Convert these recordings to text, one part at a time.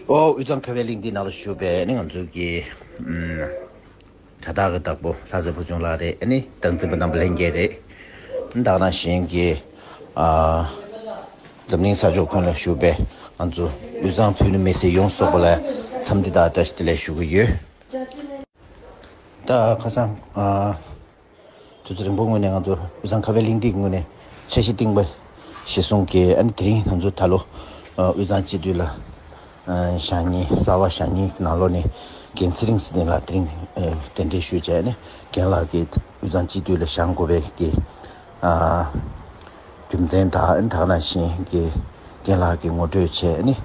ཨོ་དབུས་གཙང་ཁ་བའི་གླིང་འདི་ན་ལ་བཞུགས་པའི་ང་ཚོ་གི་དྲ་བདག་གི་བདག་པོ་ལྷ་རྩེ་ཕུལ་བྱུང་ལགས་རེད་ནི་བདག་འཛིན་པ་རྣམ་པ་ལྷན་རྒྱས་རེད་བདག་རང་གཞན་གྱི་འཛམ་གླིང་ས་ཕྱོགས་ཀུན་ལ་བཞུགས་པའི་ང་ཚོ་དབུས་གཙང་ཕུ་ནུ་མི་སེར་ཡོངས་གསོག་པ་ལ་འཚམས་འདི་དག་བཀྲ་ཤིས་བདེ་ལེགས་ཞུ་གི་ཡོད། ད་ཁ་སང། དུས་ཚོད་རིང་པོ་སྔོན་ནས་ང་ཚོ་དབུས་གཙང་ཁ་བའི་གླེང་སྟེགས་ངོས་ནས་འཆར་གཞི་བཏིངས་པ་ཞེས་གསུངས་ཀྱི་དེ་རིང་ང་ཚོ་ད་ལོ་དབུས་གཙང་སྤྱི་འཐུས་ལ་ཞག་གཉིས་གསར་བ་ཞག་གཉིས་ནང་ལོགས་ནས་རྒན་ཚེ་རིང་སྲིད་ལྡན་ལགས་དེ་རིང་གདན་འདྲེན་ཞུས་བྱས་ནས་རྒན་ལགས་ཀྱིས་དབུས་གཙང་སྤྱི་འཐུས་ལ་བཞག་མགོ་བའི་རྒྱུ་མཚན་དང་དག་ན་བཞིན་རྒན་ལགས་ཀྱིས་ངོ་སྤྲོད་བྱས་ནས་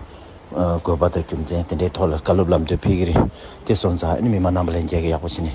དགོས་པ་དང་རྒྱུ་མཚན་དེ་འདྲའི་ཐོག་ལ་བཀའ་སློབ་ལམ་སྟོན་ཕེལ་གྱི་རེད་དེ་སོང་ཙང་མི་མང་རྣམས་པ་ལ་མཇལ་ཁ་ཡག་པོ་བྱས་ནས།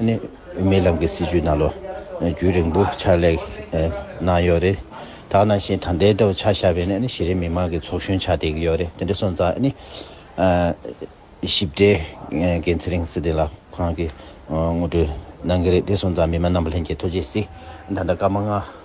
ནི་རྨི་ལམ་གྱི་སྲིད་ཇུས་ནང་ལོ་རྒྱུས་རིང་པོ་ཕྱག་ལས་གནང་ཡོད་རེད། དག་ནང་བཞིན་དང་ལྡན་ཐོག་ཆ་བཞག་པའི་ནི་གཞི་རིམ་མི་མང་གི་ཚོགས་གཞོན་ཆགས་བསྡད་ཀྱི་ཡོད་རེད་དེ་འདྲ་སོང་ཙང་ནི། ཞིབ་ཕྲའི་འགན་ཚེ་རིང་སི་ཏི་ལ་ཁོ་རང་གིས་ངོ་སྤྲོད་གནང་གི་རེད་དེ་སོང་ཙང་མི་མང་རྣམ་པ་ལྷན་རྒྱས་ཐོག་ཇི་སྲིད་ད་ལྟ་སྐར་མ་ལྔ།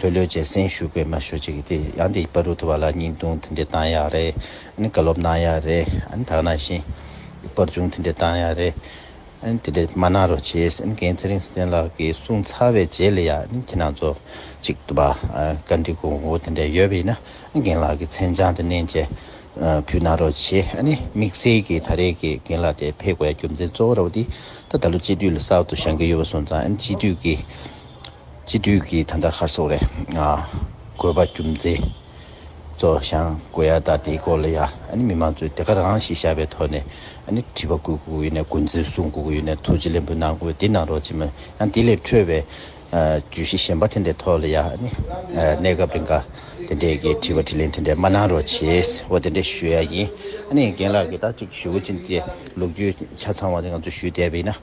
ལྷོད་ལྷོད་ཀྱི་སེམས་ཤུགས་པས་མ་ཤོད་ཅིག་གིས་དེ་ཡང་དེ་སྤར་རུ་ཐུབ་པ་ལ་སྙིང་དུང་དེ་འདྲས་བཏང་ཡག་རེད་ཨ་ནི་བཀའ་སློབ་གནང་ཡག་རེད་ཨ་ནི་དག་ན་བཞིན་སྤར་ཆུང་དེ་འདྲས་བཏང་ཡག་རེད་ཨ་ནི་དེ་འདྲས་མ་གནང་རོགས་བྱས་ཨ་ནི་གངས་ཚེ་རིང་བསམ་གཏན་ལགས་ཀྱིས་གསུངས་ཚར་བའི་རྗེས་ལ་ཡང་ཨ་ནི་ཁྱེད་རང་ཚོ་གཅིག་ཏུ་བ་བཀའ་འདྲི་གོ་དགོས་དེ་འདྲས་ཡོད་པ་ཡིན་ན་རྒན་ལགས་ཀྱི་མཚན་བྱང་དེ་བསྣན་ཅེས་ཕུལ་གནང་རོགས་བྱས་ཨ་ནི་དམིགས་བསལ་གྱིས་ད་རེས་ཀྱི་རྒན་ལགས་དེ་ཕེབས་དགོས་ཡ་རྒྱུ་མཚན་གཙོ་བོ་ར་བ་དེ་ད་ད་ལོ་སྤྱི་འཐུས་ལ་གསར་དུ་བཞེངས་ཀྱི་ཡོད་པ་སོང་ཙང་ཨ་ནི་སྤྱི་འཐུས་ཀྱི། སྤྱི་འཐུས་ཀྱི་ད་ལྟ་ཁར་སོག་རེ་དགོས་པ་རྒྱུ་མཚན་གཙོ་བཞང་དགོས་ཡ་ད་དེའི་སྐོར་ལ་ཡ་ཨཱ་ནི་མི་མང་གཙོས་དེ་ག་རང་ཞིག་བཞག་པའི་ཐོག་ནས་ཨཱ་ནི་དྲི་བ་དགོས་དགོས་ཡོད་ནས་དགོས་མཚན་གསུང་དགོས་དགོས་ཡོད་ནས་ཐུགས་རྗེ་ལེན་པོ་གནང་དགོས་དེ་གནང་རོགས་བྱེད་མ་ཡང་དེ་ལས་འཕྲོས་པའི་བརྗོད་གཞི་གཞན་པ་དེ་འདྲའི་ཐོག་ལ་ཡ་ཨཱ་ནི་གནས་སྐབས་རེ་འགའ་དེ་འདྲའི་གི་དྲི་བ་དྲི་ལན་དེ་འདྲའི་མ་གནང་རོགས་བྱེད་འོ་དེ་འདྲའི་ཞུ་ཡ་ཡིན་ཨཱ་ནི་རྒན་ལགས་ཀྱི་ད་ཅིག་ཞུ་འོ་ཅི་འདི་ལུགས་རྒྱུས་ཆ་ཚང་བ་དེ་ང་ཚོས་ཞུས་བསྡད་པ་ཡིན་ན།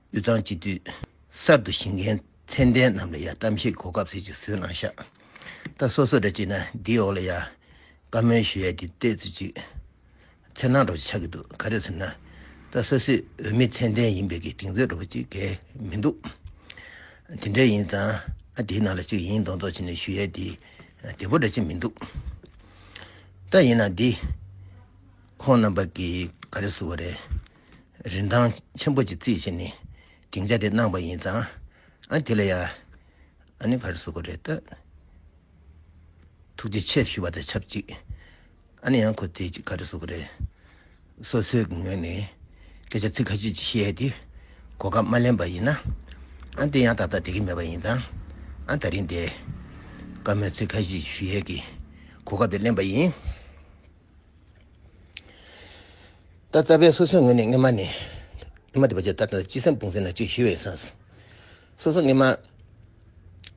དབུས་གཙང་སྤྱི་འཐུས་གསར་དུ་བཞེངས་མཁན་མཚན་ལྡན་རྣམས་ལ་ཡང་གཏམ་བཤད་གོ་སྐབས་ཟེར་གྱི་བཟོས་གནང་ཤག་ད་སོ་སོ་འདྲ་བྱས་ན་འདིའི་འོག་ལ་ཡང་བཀའ་མོལ་ཞུ་ཡ་འདི་ལྟས་ཚུལ་ཅིག་འཚེར་སྣང་འགྲོ་བྱེད་ཆགས་ཀྱི་འདུག་ག་རེ་ཟེར་ན་ད་སོ་སོས་འོས་མི་མཚན་ལྡན་ཡིན་པའི་གི་དིང་རྩེར་འགྲོ་པ་ཅིག་གལ་མི་འདུག་དེ་འདྲ་ཡིན་ཙང་ཨ་དེའི་ནང་ལ་ཅིག་ཡིན་མདོག་མདོག་བྱས་ནས་ཞུ་ཡ་འདི་བདེ་པོ་འདྲ་ཅིག་མི་འདུག་ད་ཡིན་ན་འདི་ཁོང་རྣམ་པ་གིས་ག་རེ་བཟོ་བ་རེད། རིན་ཐང་ཆེན་པོ་གཅིག་རྩིས་བྱས་ནས་སྡིངས་ཆ་དེ་གནང་བ་ཡིན་ཙང་དེ་ལ་ཡང་ཨ་ནེ་ག་རེ་ཟེར་དགོས་རེད་ད། ཐུགས་རྗེ་ཆེ་ཞུ་བ་དང་ཆབས་ཅིག་ཨ་ནེ་ཡང་ཁོ་དེ་གཅིག་ག་རེ་ཟེར་དགོས་རེད། སོ་སོའི་གི་ངོས་ནས་སྐད་ཆ་ཚིག་ཁ་ཤས་ཅིག་བཤད་དེ་གོ་སྐབས་མ་ལེན་པ་ཡིན་ན་དེ་ཡང་ད་ལྟ་དེ་གི་མེད་པ་ཡིན་ཙང་ད་རིང་དེ་བཀའ་མོལ་ཚིག་ཁ་ཤས་ཅིག་ཞུ་ཡས་གི་གོ་སྐབས་དེ་ལེན་པ་ཡིན། ད་རྩ་བའི་སོ་སོའི་ངོས་ནས་སྔ་མ་ནི། སྔ་མ་དེ་བར་ཆད་ལྟར་དང་སྤྱི་སེམས་སྤུངས་ཟིན་ལ་གཅིག་ཞི་བའི་སངས། སོ་སོ་སྔ་མ།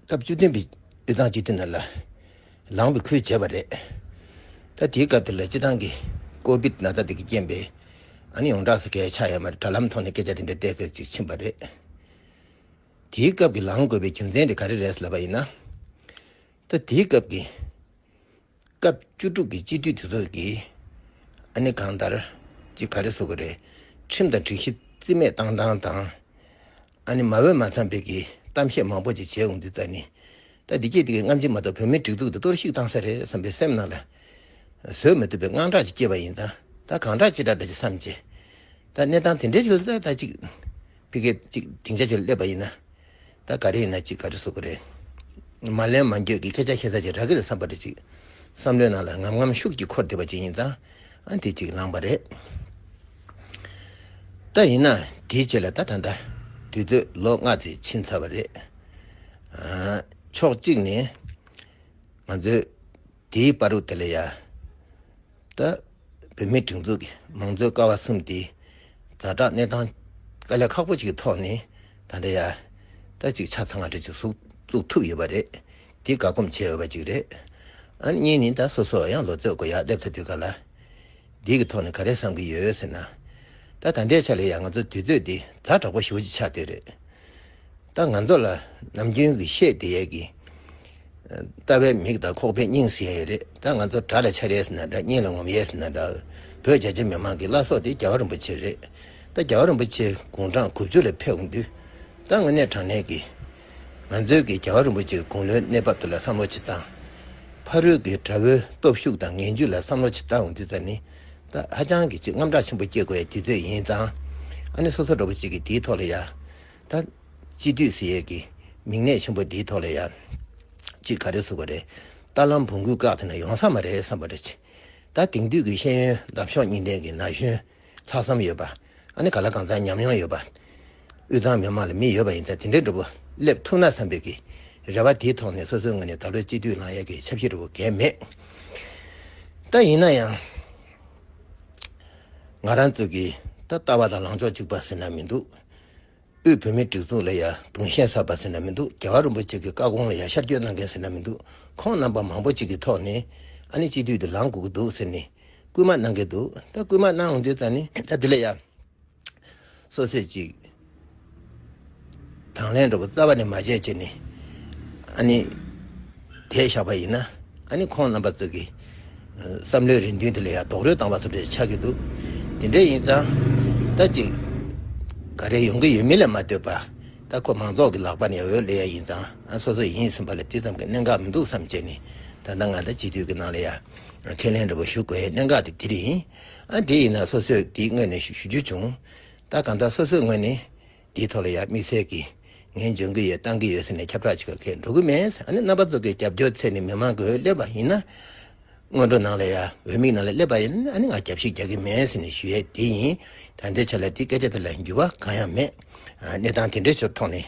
སྐབས་བཅུ་བདུན་པའི་སྤྱི་སྟངས་སྤྱི་མཐུན་ན་ལ། ལངས་པའི་ཁུལ་བྱས་པ་རེད། ད་དེའི་སྐབས་དེ་ལ་སྤྱི་སྟངས་ཀྱི། ཀོ་བིད་ན་ཚ་དེ་གི་རྐྱེན་པས། ཨ་ནི་ཡོངས་གྲགས་སུ་གས་ཆག་ཡོད་མ་རེད་དྲ་ལམ་ཐོག་ནས་སྐད་ཆ་དེ་འདྲ་བལྟས་ཟེར་ཅིག་ཕྱིན་པ་རེད། དེའི་སྐབས་ཀྱི་ལངས་དགོས་པའི་རྒྱུ་མཚན་དེ་ག་རེ་རེད་ཟེར་བ་ཡིན་ན། ད་དེའི་སྐབས་ཀྱི། སྐབས་བཅུ་དྲུག་གི་སྤྱི་འཐུས་དེ་ཚོ་གིས་ཨ་ནི་གང་ལྟར་གྱི་ག་རེ་བཟོ་གི་རེད། ཁྲིམས་དང་སྒྲིག་གཞི་རྩིས་མེད་བཏང་བཏང་དང། ཨ་ནི་མ་འོས་མ་འཚམས་པའི་གི་གཏམ་བཤད་མང་པོ་ཅིག་བྱས་འོང་རྩིས་རྩ་ནི། ད་འདི་སྐད་དེ་གིས་རྔམ་བརྗིད་མ་གཏོགས་བོད་མིའི་སྒྲིག་འཛུགས་འདི་གཏོར་བཤིག་བཏང་ས་རེད་བསམ་པའི་སེམས་ནང་ལ་བཟོད་མི་ཐུབ་པའི་དངངས་སྐྲག་ཅིག་སྐྱེས་པ་ཡིན་ད། ད་གང་དྲག་ཅི་དྲག་དྲག་ཅིག་བསམ་བྱས། ད་གནས་སྟངས་དེ་འདྲའི་ཆུ་ལ་ད་ཅིག་ཕི་གེ་ཅིག་དེང་ཆ་ཆུ་ལ་སླེབས་པ་ཡིན་ན། ད་ག་རེ་ཡིན་ན་ཅིག་ག་རེ་བཟོ་གི་རེད། མ་ལན་མ་འགྱོད་ཀྱི་སྐད་ཆ་ཤེས་ཚར་ཅིག་རག་གི་རེད་བསམ་པ་རེད་ཅིག། བསམ་བློའི་ནང་ལ་ངམ་ངམ་ཤུགས་ཀྱིས་འཁོར་བསྡད་པ་ཅིག་ཡིན་ད། ཨ་འདི་ཅིག་ལངས་པ་རེད། ད་ཡིན་ན་དེའི་རྗེས་ལ་ད་ད་ད། དུས་ཚོད་ལོ་ལྔ་ཚེ་ཕྱིན་ཚར་བ་རེད། ཕྱོགས་གཅིག་ནས་ང་ཚོའི། དེའི་པཱ་རུ་ཏི་ལ་ཡ། དུ། བོད་མིའི་སྒྲིག་འཛུགས་ཀྱི་མང་གཙོའི་ཀ་བ་གསུམ་དེའི་རྫ་བསྒྲགས་གནས་སྟངས་དཀའ་ལས་ཁག་པོ་ཅིག་གི་ཐོག་ནས་ད་ལྟ་ཡ། ཏུ་ཅིག་ཆ་ཚང་བ་འདྲ་ཅིག་གཟུགས་བཙུགས་ཐུབ་ཡོད་པ་རེད། དེ་དགའ་སྒོམ་བྱེད་འོས་པ་ཅིག་རེད། ཨཱ། གཉིས་ནི་ད་སོ་སོ་ཡང་ལོ་ཚོད་དགུ་ཡར་སླེབས་ཚར་དུས་ག་ལ། འདི་གི་ཐོག་ནས་ག་རེ་བསམ་གྱི་ཡོད་ཟེར་ན། ད་ད་ལྟའི་ཆ་ལ་ཡང་ང་ཚོ་དུས་ཚོད་འདི་ཛར་དྲག་པོ་ཞིག་ཅིག་ཆགས་བསྡད་རེད། ད་ང་ཚོ་ལ་ནམ་རྒྱུན་གྱི་ཤེས་བདེ་ཡས་ཀྱི། ལྟ་བའི་མིག་དང་ཁོག་པའི་སྙིང་ཟིན་ཡས་རེད་ད་ང་ཚོ་དགྲ་ལ་འཕྱར་ཡས་ཟིན་ན་འདྲ་སྙིང་ལ་ངོམ་ཡས་ཟིན་ན་འདྲ། བོད་རྒྱ་ཆེ་མི་མང་གི་བླ་སྲོག་དེ་རྒྱལ་བ་རིན་པོ་ཆེ་རེད། ད་རྒྱལ་བ་རིན་པོ་ཆེ་དགུང་གྲངས་དགུ་བཅུ་ལ་ཕེབས་དགོས་འདུག་ད་དངོས་གནས་དྲང་གནས་ཀྱི། ང་ཚོས་ཀྱིས་རྒྱལ་བ་རིན་པོ་ཆེའི་དགུང་ལོའི་གནས་བབ་དེ་ལ་བསམ་བློ་བྱེད་སྟངས། ཕ་རོལ་གྱི་དགྲ་བོའི་སྟོབས་ཤུགས་དང་ངན་ཇུས་ལ་བསམ་བློ་བྱེད་སྟངས་འདི་ཙམ་ནི། ཧ་ཅང་གི་ཆེས་རྔམ་དྲག་ཆེན་པོ་སྐྱེ་དགོས་ཡ་ལྗིད་ཚད་ཡིན་ཙང། ཨ་ནི་སོ་སོ་འགྲོ་བ་ཞིག་གིས་འདིའི་ཐོག་ལ་ཡ། ད། སྤྱི་འཐུས་ཟེར་ཡས་ཀྱིས་མིག་ནད་ཆེན་པོ་འདིའི་ཐོག་ལ་ཡ། ཅིག་ག་རེ་ཟུག་ག་རེ། རྟ་ལམ་བུང་གུས་བཀག་དེ་ན་ཡོང་ས་མ་རེད་བསམ་པ་རེད། ད་དེང་དུས་ཀྱི་ཤེས་ཡོན་འདབ་གཤོག་སྙིང་ལྡན་གྱི་ན་གཞོན། ལྷག་བསམ་ཡོད་པ། ཨ་ནི་ག་ལ་གང་ཟག་ཉམས་མྱོང་ཡོད་པ། དབུས་གཙང་མི་དམངས་ལ་མི་ཡོད་པ་ཡིན་ཚ་དེ་འདྲའི་འགྲོ་བོ་སླེབས་ཐུབ་ན་བསམ་འཕེལ་གྱི་རེ་བ་དེའི་ཐོག་ནས་སོ་སོའི་ངོས་ནས་ད་ལོའི་སྤྱི་འཐུས་ལངས་ཡས་ཀྱི་ཆབ་སྲིད་རེ་བོ་གལ་མེད། ད་ཡིན་ན་ཡང། ང་རང་ཚོ་གི་ད་ལྟ་བ་དང་ལངས་ཕྱོགས་གཅིག་པ་ཟེར་ན་མི་འདུག་དབུས་བོད་མིའི་སྒྲིག་འཛུགས་ལ་ཡ་དུང་ཞེན་ཚ་བ་ཟེར་ན་མི་འདུག་རྒྱ་གར་རིན་པོ་ཆེ་གི་བཀའ་དགོངས་ལ་ཡ་ཤར་སྐྱོད་གནང་མཁན་ཟེར་ན་མི་འདུག་ཁོང་རྣམ་པ་མང་བོ་ཅིག་གི་ཐོག་ནས་ཨ་ནི་སྤྱི་འཐུས་དུ་ལངས་དགོས་ཀྱི་འདུག་ཟེར་ནས་རྐུན་མ་གནང་གི་འདུག་ད་རྐུན་མ་གནང་འོང་དུས་ད་ནི་ད་དེ་ལས་ཡག། སོ་སོས་ཅིག། དང་ལེན་འགྲོ་པོ་རྩ་བ་ནས་མ་བྱས་ཅེས་ནི། ཨ་ནི། དེས་བཞག་པ་ཡིན་ན། ཨ་ནི་ཁོང་རྣམ་པ་ཙིག་གི། བསམ་བློའི་རེ་འདུན་དེ་ལས་ཡག་རྡོག་རོལ་བཏང་བ་སོགས་འདྲ་ཆགས་ཀྱི་འདུག་དེ་འདྲ་ཡིན་ཙང། ད་ཅིག། ག་རེ་ཡོང་གི་ཡོད་མིན་ལ་མ་ལྟོས་པ། ད་ཁོ་མང་ཚོགས་ཀྱི་ལག་པ་ནས་འོས་ལེན་ཡག་ཡིན་ཙང་ཨ་སོ་སོ་ཡིན་ཟིན་པ་ལ་དེ་ཙམ་གྱི་གནད་འགག་མི་འདུག་བསམ་ཅེས་ནི། ད་ད་ང་ད་བྱིས་དུས་ཀྱི་ནང་ལས་ཡག། ཁས་ལེན་འདྲ་པོ་ཞུ་དགོས་གནད་འགག་དེ་འདི་རེད། ཨ་འདི་ཡིན་ན་སོ་སོས་འདི་དངོས་ནས་ཞུ་རྒྱུ་བྱུང། ད་གང་ལྟར་སོ་སོས་དངོས་ནས་འདིའི་ཐོག་ལ་ཡར་དམིགས་བསལ་གྱིས་ངས་འཇོན་གྱི་ཡོད་བཏང་གི་ཡོད་ཟེར་ནས་ཁྱབ་བསྒྲགས་བྱེད་ཁ་ཁས་འགྲོ་གི་མེད། ཨ་ནི་རྣམ་པ་ཚོ་གི་རྒྱབ་སྐྱོར་ཚད་ནི་མི་མང་གི་འོས་སླེབས་པ་ཡིན་ན། སྔོན་འགྲོ་ནང་ལ་ཡང་འོས་དམིགས་ནང་ལ་སླེབས་པ་ཡིན་ཨ་ནི་ང་རྒྱབ་བཤིག་རྒྱག་གི་མེད་ཟེར་ནས་ཞུ་ཡས་དེ་ཡིན། ད་ལྟའི་ཆ་ལ་འདི་སྐད་ཆ་དེ་ལ་འགྱུར་བ་གང་ཡང་མེད། གནས་སྟངས་དེ་འདྲའི་ཆོ་ཐོག་ནས།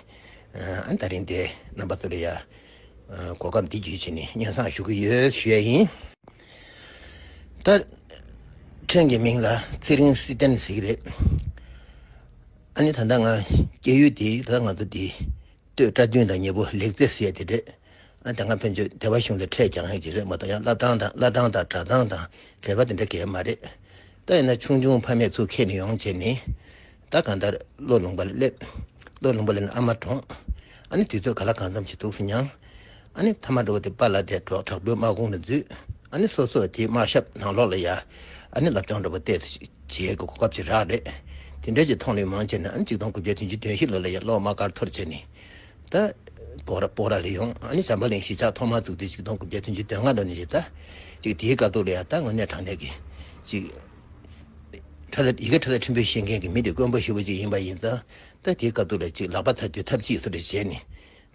ཨ་ནི་ད་རིང་འདི་རྣམ་པ་ཚོ་ལ་ཡར་གོ་སྐབས་འདི་བརྒྱུད་བྱས་ནས་སྙན་གསང་ཞུ་གི་ཡོད་ཞུས་ཡས་ཡིན། ད་ཕྲན་གྱི་མིང་ལ་ཚེ་རིང་བསིལ་ལྡན་ཟེར་གྱི་རེད། ཨ་ནི་ད་ལྟ་ང་སྐྱེས་ཡུལ་དེ་ད་ལྟ་ང་ཚོ་འདི་སྟོད་བཀྲ་དུས་དང་ཉེ་པོ་ལེགས་རྩེ་ཟེར་དེ་རེད། ཨ་དེ་སྔ་ཕན་ཆོད་སྡེ་བ་གཞུང་ལས་འཕྲད་ཀྱང་ཡོད་ཀྱི་རེད་མ་གཏོགས་ཡང་བླ་བྲང་དང་བླ་བྲང་དང་གྲྭ་ཚང་དང་གད་པ་དེ་འདྲ་གས་མ་རེད། ད་ཡིན་ན་ཆུང་ཆུང་ཕ་མས་ཚུར་ཁས་ནས་ཡོང་བྱས་ནས་བདག་གང་ལྟར་བློས་ལོངས་པར་སླེབ། བློས་ལོངས་པ་ལས་ནི་ཨ་མ་གྲོངས། ཨ་ནི་དུས་ཚོད་ག་ལ་གང་འཚམས་ཤིག་འདུག་སེ་མྱང། ཨ་ནི་ཐ་མ་འགྲོ་བ་དེ་པཱ་ལ་དེ་གྲོགས་དྲག་པོའི་དམག་དགུང་ལ་འཛུལ། ཨ་ནི་སོ་སོ་དེའི་དམག་ཞབས་ནང་ལོགས་ལ་ཡ། ཨ་ནི་ལབ་ཅོང་འགྲོ་བ་བལྟས་སུ་བྱས་གོ་སྐབས་ཅི་རག་རེད། དེ་འདྲའི་ཅི་མཐོང་ལུས་མང་བྱས་ནས་ཨ་ནི་གཅིག་སྟོང་དགུ་བརྒྱ་བདུན་ཅུ་དོན་བཞི་ལོ་ལ་ཡ་གློག་དམག་སྒར་ཐོར་བྱས་ནས་ད། པོག་ར་ལས་ཡོང་ཨ་ནི་ཞམ་པ་གླིང་གཞིས་ཆགས་ཐོག་མར་བཙུགས་དུས་གཅིག་སྟོང་དགུ་བརྒྱ་བདུན་ཅུ་དོན་ལྔ་ལོ་ནས་བཞི་ད། ཅིག་དེའི་དཀའ་སྡུག་ལ་ཡ་ད་དངོས་གནས་དྲང་གནས་ཀྱི་ཅིག། ཁྲ་ལ། ཡི་གེ་ཁྲ་ལ་ཁྲིམས་དཔོན་བཤད་མཁན་གྱི་མི་དེ་དཀོན་པོ་ཧྲིལ་བོ་གཅིག་ཡིན་པ་ཡིན་ཙང་ད་དེའི་སྐབས་འདུག་ལ་གཅིག་ལག་པ་ཐ་དུས་ཐབས་ཅིག་སུ་རེ་བྱས་ནས་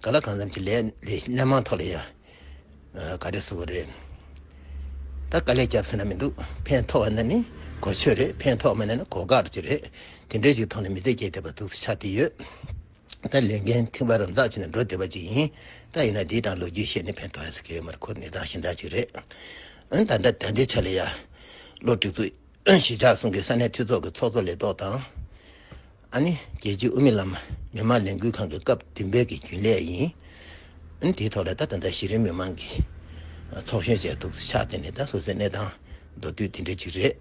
ག་ལ་གང་འཚམ་གྱི་ལས་ལས་སླད་མང་ཐོག་ལ་ཡང་ག་རེ་བཟོ་བ་རེད། ད་དཀའ་ལས་རྒྱབ་ཟེར་ན་མི་འདུག་ཕན་ཐོག་ན་ནི་གོ་ཆོད་རེད་ཕན་ཐོག་མ་ན་ནི་གོ་དགའ་རེད་ཅིག་རེད་དེ་འདྲའི་ཅིག་ཐོག་ནས་མི་ཚེ་སྐྱེལ་ཐུབ་པ་འདུག་ས་ཆ་དེ་ཡོད། ད་ལས་འགན་མཐིང་བ་རམ་འཛག་བྱས་ནས་འགྲོ་བདེ་བ་ཅིག་ཡིན། ད་ཡིན་ན་འདིའི་དང་ལོ་རྒྱུས་བཤད་ནི་ཕན་ཐོག་ཨེ་ཟེར་གི་ཡོད་མ་རེད་ཁོ་ནི་དང་ཞེན་དག་ཅིག་རེད། འོན་ད་ལྟ་དེ་འདྲའི་ཆ་ལས་ཡར་ལོ་སྒྲིག་འཛུགས་གཞིས་ཆགས་སྲུང་གི་ས་གནས་འཐུས་ཚོགས་ཀྱི་ཚོགས་གཙོ་ལས་ཐོག་དང། ཨ་ནི་རྒྱལ་སྤྱིའི་དབུ་མེད་ལམ་མི་མང་ལས་འགུལ་ཁང་གི་སྐབས་བདུན་པའི་གི་རྒྱུན་ལས་ཡིན། འོན་དེའི་ཐོག་ལས་ད་ད་ལྟ་གཞི་རིམ་མི་མང་གི་ཚོགས་གཞོན་བྱས་འདུག་ཆགས་དེ་ནི་ད་སོ་སོའི་གནས་སྟངས་མདོར་བསྡུས་དེ་འདྲ་ཅིག་རེད།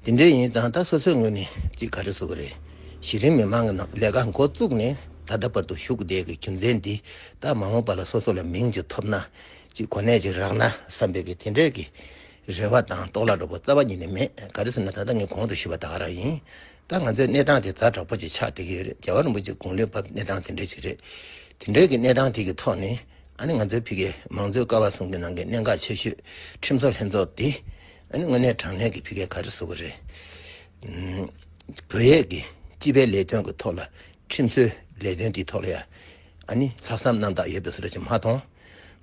དེ་འདྲ་ཡིན་ཙང་ད་སོ་སོའི་ངོས་ནས་ཅིག་ག་རེ་བཟོ་གི་རེད། གཞི་རིམ་མི་མང་གི་ནང་ལས་ཀ་མགོ་བཙུགས་ནས་ད་ལྟ་བར་དུ་ཞུགས་བསྡད་གི་རྒྱུ་མཚན་འདི་ད་མ་འོངས་པ་ལ་སོ་སོ་ལ་མིང་ཅིག་ཐོབ་ན་ཅིག་གོ་གནས་ཅིག་རག་ན་བསམ་པའི་གི་དེ་འདྲའི་གི་རེ་བ་དང་དོགས་ལ་དྲོ་པོ་རྩ་བ་ཉིད་ནས་མེད་ག་རེ་ཟེར་ན་ད་ལྟ་ངས་གོང་དུ་ཞུས་པ་དག་རང་ཡིན་ད་ང་ཚོའི་གནས་སྟངས་དེ་ད་དྲག་པོ་ཅིག་ཆགས་བསྡད་གི་ཡོད་རེད་རྒྱལ་བ་རིན་པོ་ཆེ་དགུང་ལོའི་བབ་གནས་སྟངས་དེ་འདྲའི་ཅིག་རེད་དེ་འདྲའི་གི་གནས་སྟངས་དེ་གི་ཐོག་ནས་ཨ་ནི་ང་ཚོའི་ཕི་གས་མང་གཙོའི་ཀ་བ་ཟུང་གི་ནང་གི་གནད་འགག་ཆེ་ཤོས་ཁྲིམས་བཟོ་ལྷན་ཚོགས་དེ། དངོས་གནས་དྲང་གནས་ཀྱི་ཕི་ཀའི་ག་རེ་བཟོ་གི་རེད། བོད་ཡིག་གི་སྤྱི་པའི་ལས་དོན་གྱི་ཐོག་ལ་ཁྲིམས་བཟོའི་ལས་དོན་དེའི་ཐོག་ལ་ཡང་ལྷག་བསམ་རྣམ་དག་ཡོད་པའི་བཟོ་ལས་ཅིག་མ་མཐོང།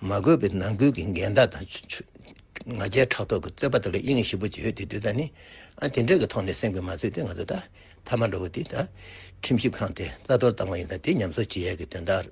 མ་དགོས་པའི་ནང་ཁུལ་གྱི་འགལ་ཟླ་དང་ང་རྒྱལ་ཕྲག་དོག་གི་རྩོད་པ་དག་ལ་དབྱིན་ཡིག་ཞིབ་པོ་བརྗོད་དེ་བསྡུས་ད་ནི་དེ་འདྲའི་གི་ཐོག་ནས་གསན་དགོས་མ་ཚོད་དེ་ང་ཚོ་ད་ཐ་མ་འདྲ་བོ་དེ་ད་ཁྲིམས་ཞིབ་ཁང་དེ་རྩ་གཏོར་བཏང་བ་ཡིན་ད་དེ་ཉམས་གསོ་བྱེད་ཡས་ཀྱི་དོན་དག་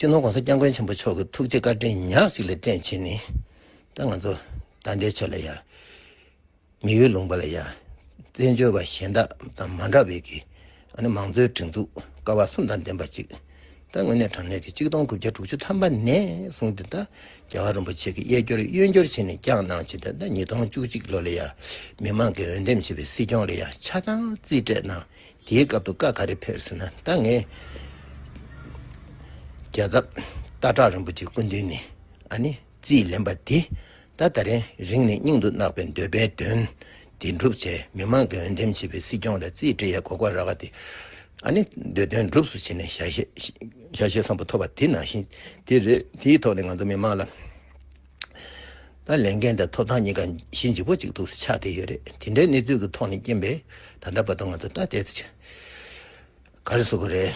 སྤྱི་ནོར ྋགོང་ས ྋསྐྱབས་མགོན་ཆེན་པོ་མཆོག་གི་ཐུགས་རྗེ་བཀའ་དྲིན་ཉག་ཅིག་ལས་བརྟེན་བྱས་ནས་ད་ང་ཚོ་ད་ལྟའི་ཆོས་ལ་ཡ། མི་ཡུལ་ལུང་པ་ལ་ཡ། བཙན་བྱོལ་བ་གཞན་དག་དང་མ་འདྲ་བའི་གི་མང་གཙོའི་སྒྲིག་འཛུགས་ཀ་བ་གསུམ་དང་ལྡན་པ་གཅིག་ད་དངོས་གནས་དྲང་གནས་ཀྱི་གཅིག་སྟོང་དགུ་བརྒྱ་དྲུག་ཅུ་ཐམ་པ་ནས་བཟུང་སྟེ་ད་རྒྱལ་བ་རིན་པོ་ཆེ་གི་གཡས་སྐྱོར་གཡོན་སྐྱོར་བྱས་ནས་བསྐྱངས་གནང་བྱས་ཏེ་ད་ཉིས་སྟོང་བཅུ་གཅིག་ལོ་ལ་ཡ། མི་མང་གི་འོས་འདེམས་བྱས་པའི་སྲིད་སྐྱོང་ལ་ཡ་ཆ་ཚང་རྩིས་སྤྲད་གནང་དེའི་སྐབས་དུ་བཀའ་ག་རེ་ཕེབས་ཟེར་ན་ད་ངས། རྒྱལ་ཁབ་སྟག་བྲག་རིན་པོ་ཆེ་སྐུ་མདུན་ནས་ཨ་ནི་རྩིས་ལེན་པ་འདི་ད་ད་རན་རིང་ནས་སྙིང་དུ་བརྣག་པའི་འདོད་པའི་དོན་དེ་འགྲུབ་བྱས་མི་མང་གི་འོས་འདེམས་བྱས་པའི་སྲིད་སྐྱོང་ལ་རྩིས་འབྲི་ཡའི་གོ་ག་ར་བ་དེ་ཨ་ནི་འདོད་དོན་འགྲུབས་སུ་བྱས་ནས་ཞལ་ཞལ་བཟང་པོ་ཐོབ་པ་དེ་ནང་བཞིན་དེ་རེད་དེའི་ཐོག་ནས་ང་ཚོ་མི་མང་ལ། ད་ལས་འགན་དང་ཐོབ་ཐང་གཉིས་ཀ་གཞི་འཇིག་པོ་གཅིག་ཏུ་ཆགས་བསྡད་ཡོད་རེད་དེ་འདྲའི་གནས་ཚུལ་གྱི་ཐོག་ནས་རྐྱེན་པས་ད་ལྟ་བར་དུ་ང་ཚོ་ལྟ་བལྟས་ཚེ་ཆེས་དགའ་རེ་བཟོ་གི་རེད།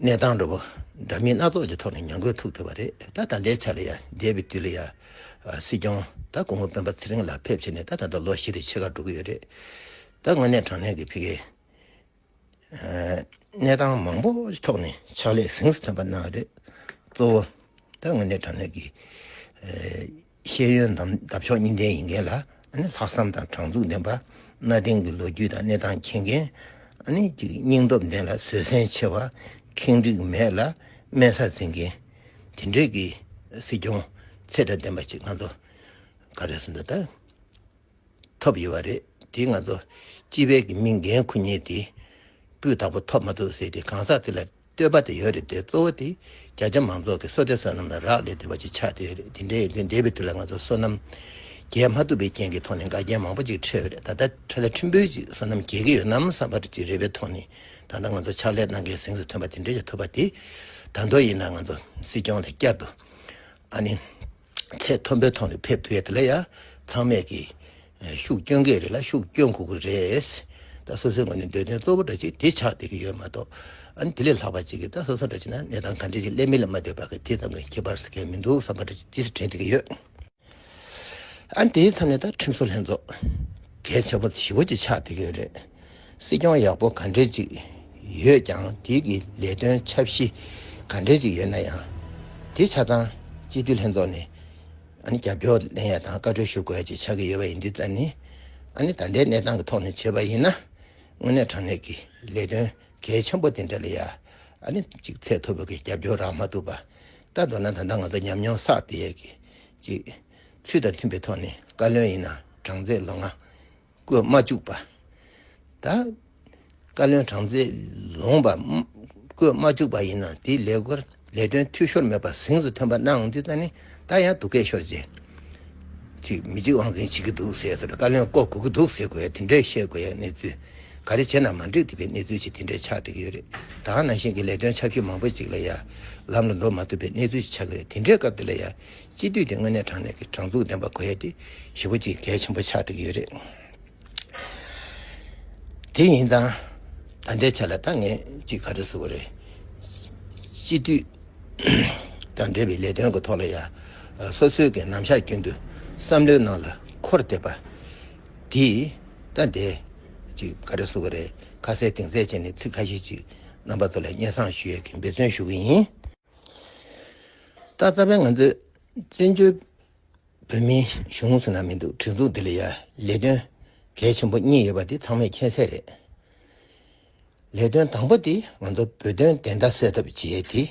གནས་སྟངས་འགྲོ་པོ་འདྲ་མིན་སྣ་ཚོགས་ཀྱི་ཐོག་ནས་ཉམས་རྒུད་ཐུག་ཐུབ་པ་རེད་ད་ད་ལྟའི་ཆ་ལ་ཡ་འདས་པའི་དུས་ལ་ཡ་སྲིད་སྐྱོང་ད་སྐུ་ངོ་སྤེན་པ་ཚེ་རིང་ལགས་ཕེབས་བྱས་ནས་ད་ད་ལྟ་ལོ་བཞི་རེ་ཕྱེད་ཀ་འགྲོ་གི་ཡོད་རེད་ད་དངོས་གནས་དྲང་གནས་ཀྱི་ཕི་གེ་གནས་སྟངས་མང་པོ་ཞིག་ཐོག་ནས་ཕྱག་ལས་གཟེངས་སུ་ཐོན་པ་གནང་རེད། གཙོ་བོ་ད་ང་ནི་དྲང་གནས་ཀྱི་ཤེས་ཡོན་འདབ་ཆགས་གཉིས་ལྡན་ཡིན་མཁན་ལ་ལྷག་བསམ་དང་དྲང་ཚུགས་ལྡན་པ། གནའ་དེང་གི་ལོ་རྒྱུས་དང་གནས་སྟངས་མཁྱེན་མཁན། སྙིང་སྟོབས་ལྡན་ལ་བཟོད་བསྲན་ཆེ་བ། ཁེངས་དྲེགས་མེད་ལ་དམན་ས་འཛིན་མཁན། དེ་འདྲའི་གི་སྲིད་སྐྱོང་ཚད་དང་ལྡན་པ་ཞིག་ང་ཚོ་ག་རེ་སུ་འདུག་ད། ཐོབ་ཡོད་པ་རེད་དེ་ང་ཚོ་སྤྱི་བེར་གྱི་མི་འགན་ཁུར་ཉེས་དེ་སྤུས་དག་པོ་ཐོབ་མ་ཐུབ་ཟེར་དེ་གང་ཟག་དེ་ལ་བསྟོད་པ་དེ་ཡོད་རེད་དེ་གཙོ་བོ་དེ་རྒྱ་ཆེ་མང་ཚོགས་ཀྱི་སོ་ལྟའི་བསོད་ནམས་ལ་རག་ལས་དེ་བ་ཅི་ཆགས་དེ་ཡོད་རེད་དེ་འདྲའི་ཡིན་དུས་འདས་པའི་དུས་ལ་ང་ཚོ་བསོད་ནམས་རྒྱས་མ་ཐུབ་པའི་རྐྱེན་གྱི་ཐོག་ནས་འགལ་རྐྱེན་མང་པོ་ཅིག་འཕྲད་ཡོད་རེད་ད་ལྟ་ཁྲི་ལ་ཁྲི་འབུལ་ཅིག་བསོད་ནམས་རྒྱས་ཀྱི་ཡོད་ནམ་བསམ་པ་ཅིག་རེད་པའི་ཐོག་ནས་ད་ལྟ་ང་ཚོ་ཕྱག་ལས་གནང་མཁན་སེང་ཟི་ཐོན་པ་དེ་འདྲ་ཞིག་ཐུབ་པ་དེ་དར་མདོ་ཡིན་ན་ང་ཚོ་སྲིད་སྐྱོང་ལ་བསྐྱར་དུ་ཨ་ནི། ཚད་མཐོན་པོའི་ཐོག་ནས་ཕེབས་ཐུབ་ཡས་དེ་ལ་ཡ་ཚང་མས་ཀྱི། ཤུགས་སྐྱོན་གྱི་རེད་ལ་ཤུགས་སྐྱོན་གུག་གི་རེད། ད་སོ་སོའི་ངོས་ནས་འདོད་དོན་གཙོ་བོ་འདྲ་ཅིག་དེ་ཆགས་བསྡད་ཀྱི་ཡོད་མ་གཏོགས། ཨ་ནི་དེ་ལས་ལྷག་པ་ཅིག་གིས་ད་སོ་སོ་འདྲ་ཅིག་ན་གནས་སྟངས་ག་འདྲ་ཞིག་སླེབས་མིན་ལ་མ་ལྟོས་པར་དེ་ཙམ་གྱི་ཁྱད་པར་ཟ་མཁན་མི་འདུག་བསམ་པ་འདྲ་ཅིག་དེ་སུ་དྲན་བསྡད་ཀྱི་ཡོད། ཨ་ནི་དེའི་མཚམས་ནས་ད་ཁྲིམས་བཟོ་ལྷན་ཚོགས། གལ་ཆེན་པོ་བཞི་བོ་ཅིག་ཆགས་བསྡད་ཀྱི་ཡོད་རེད། སྲིད་སྐྱོང་ཡག་པོ་ག་འདྲས་ཅིག་ཡོད་ཀྱང་དུས་ཀྱི་ལས་དོན་ཆབ་གཞི་ག་འདྲས་ཅིག་ཡོད་ན་ཡང་དེ་ཆ་ཚང་སྤྱི་འཐུས་ལྷན་ཚོགས་ནས་རྒྱབ་སྐྱོར་ལེན་ཡ་དང་བཀའ་འཁྲོལ་ཞུ་དགོས་ཅིག་ཆགས་ཀྱི་ཡོད་པ་ཡིན་དུས་ད་ནི་ད་ལྟའི་གནས་སྟངས་ཀྱི་ཐོག་ནས་བྱས་པ་ཡིན་ན་དངོས་གནས་དྲང་གནས་ཀྱི་ལས་དོན་གལ་ཆེན་པོ་དེ་འདྲ་ལ་ཡ་གཅིག་ཚད་མཐོ་པོ་གི་རྒྱབ་སྐྱོར་རག་མ་ཐུབ་པ་ལྟ་འདོད་ན་ད་ལྟ་ང་ཚོ་ཉམས་མྱོང་བསགས་ཏེ་ཡ་གཅིག་ཚུལ་དང་མཐུན་པའི་ཐོག་ནས་བཀའ་བློན་ཡིན་ན་གྲངས་ཚད་ལོ་ལྔ། བཀོད་མ་བཅུག་པ། ད། བཀའ་བློན་གྲངས་ཚད་ལོངས་པ། བཀོད་མ་བཅུག་པ་ཡིན་ན་དེའི་ལས་སྒོར་ལས་དོན་འཐུས་ཤོར་མེད་པ་གཟེངས་སུ་ཐོན་པ་གནང་འདི་ད་ནི་ད་ཡང་སྡུག་སྐད་ཤོར་རྗེས། ཅིག་མི་གཅིག་དབང་འཛིན་བྱེད་ཀྱི་འདུག་ཟེར་སར་བཀའ་བློན་བསྐོ་དགོས་ཀྱི་འདུག་ཟེར་དགོས་དེ་འདྲའི་བཤད་དགོས་ཡ་གནས་ཚུལ་ག་རེ་བྱས་ན་མ་འགྲིག་འདི་པའི་གནས་ཚུལ་ཅིག་དེ་འདྲའི་ཆགས་འགྲིག་ཡོད་རེད་ད་ནང་བཞིན་གྱི་ལས་དོན་ཆབ་ཤོས་མང་པོ་ཅིག་ལ་ཡ་ལམ་ལ་འགྲོ་མ་ཐུབ་པའི་གནས་ཚུལ་ཅིག་ཆགས་ཀྱི་རེད་དེ་འདྲའི་སྐབས་འདི་ལ་ཡ་སྤྱི་འཐུས་དེ་དངོས་གནས་དྲང་གནས་ཀྱི་དྲང་ཚུགས་ལྡན་པ་དགོས་ཡས་དེ་ཞི་བ་ཅིག་གལ་ཆེན་པོ་ཆགས་འགྲོ་གི་ཡོད་རེད། དེ་ཡིན་ཙང་ད་ལྟའི་ཆ་ལ་ད་ངས་ཅིག་ག་རེ་བཟོ་གི་རེད། སྤྱི་འཐུས་དང་འབྲེལ་བའི་ལས་དོན་གྱི་ཐོག་ལ་ཡང་སོ་སོའི་གི་རྣམ་གཞག་རྒྱུན་དུ་བསམ་བློའི་ནང་ལ་འཁོར་བསྡད་པ་དེས་ད་ལྟའི་ཅིག་ག་རེ་བཟོ་གི་རེད་ཁ་གསལ་གདེང་གསལ་བྱས་ནས་ཚིག་ཁ་ཤས་ཅིག་རྣམ་པ་ཚོ་ལ་སྙན་གསང་ཞུ་ཡས་ཀྱི་འབད་བརྩོན་ཞུ་གི་ཡིན། ད་རྩ་བའི་ང་ཚོའི་བཙན་བྱོལ་བོད་མིའི་གཞུང་ངོས་ནང་མི་འདུག་སྒྲིག་འཛུགས་འདི་ལ་ཡ་ལས་དོན་གལ་ཆེན་པོ་གཉིས་ཡོད་པ་འདི་ཚང་མས་མཁྱེན་གསལ་རེད། ལས་དོན་དང་པོ་དེ་ང་ཚོ་བོད་དོན་བདེན་མཐའ་གསལ་ཐབས་བྱེད་དེ་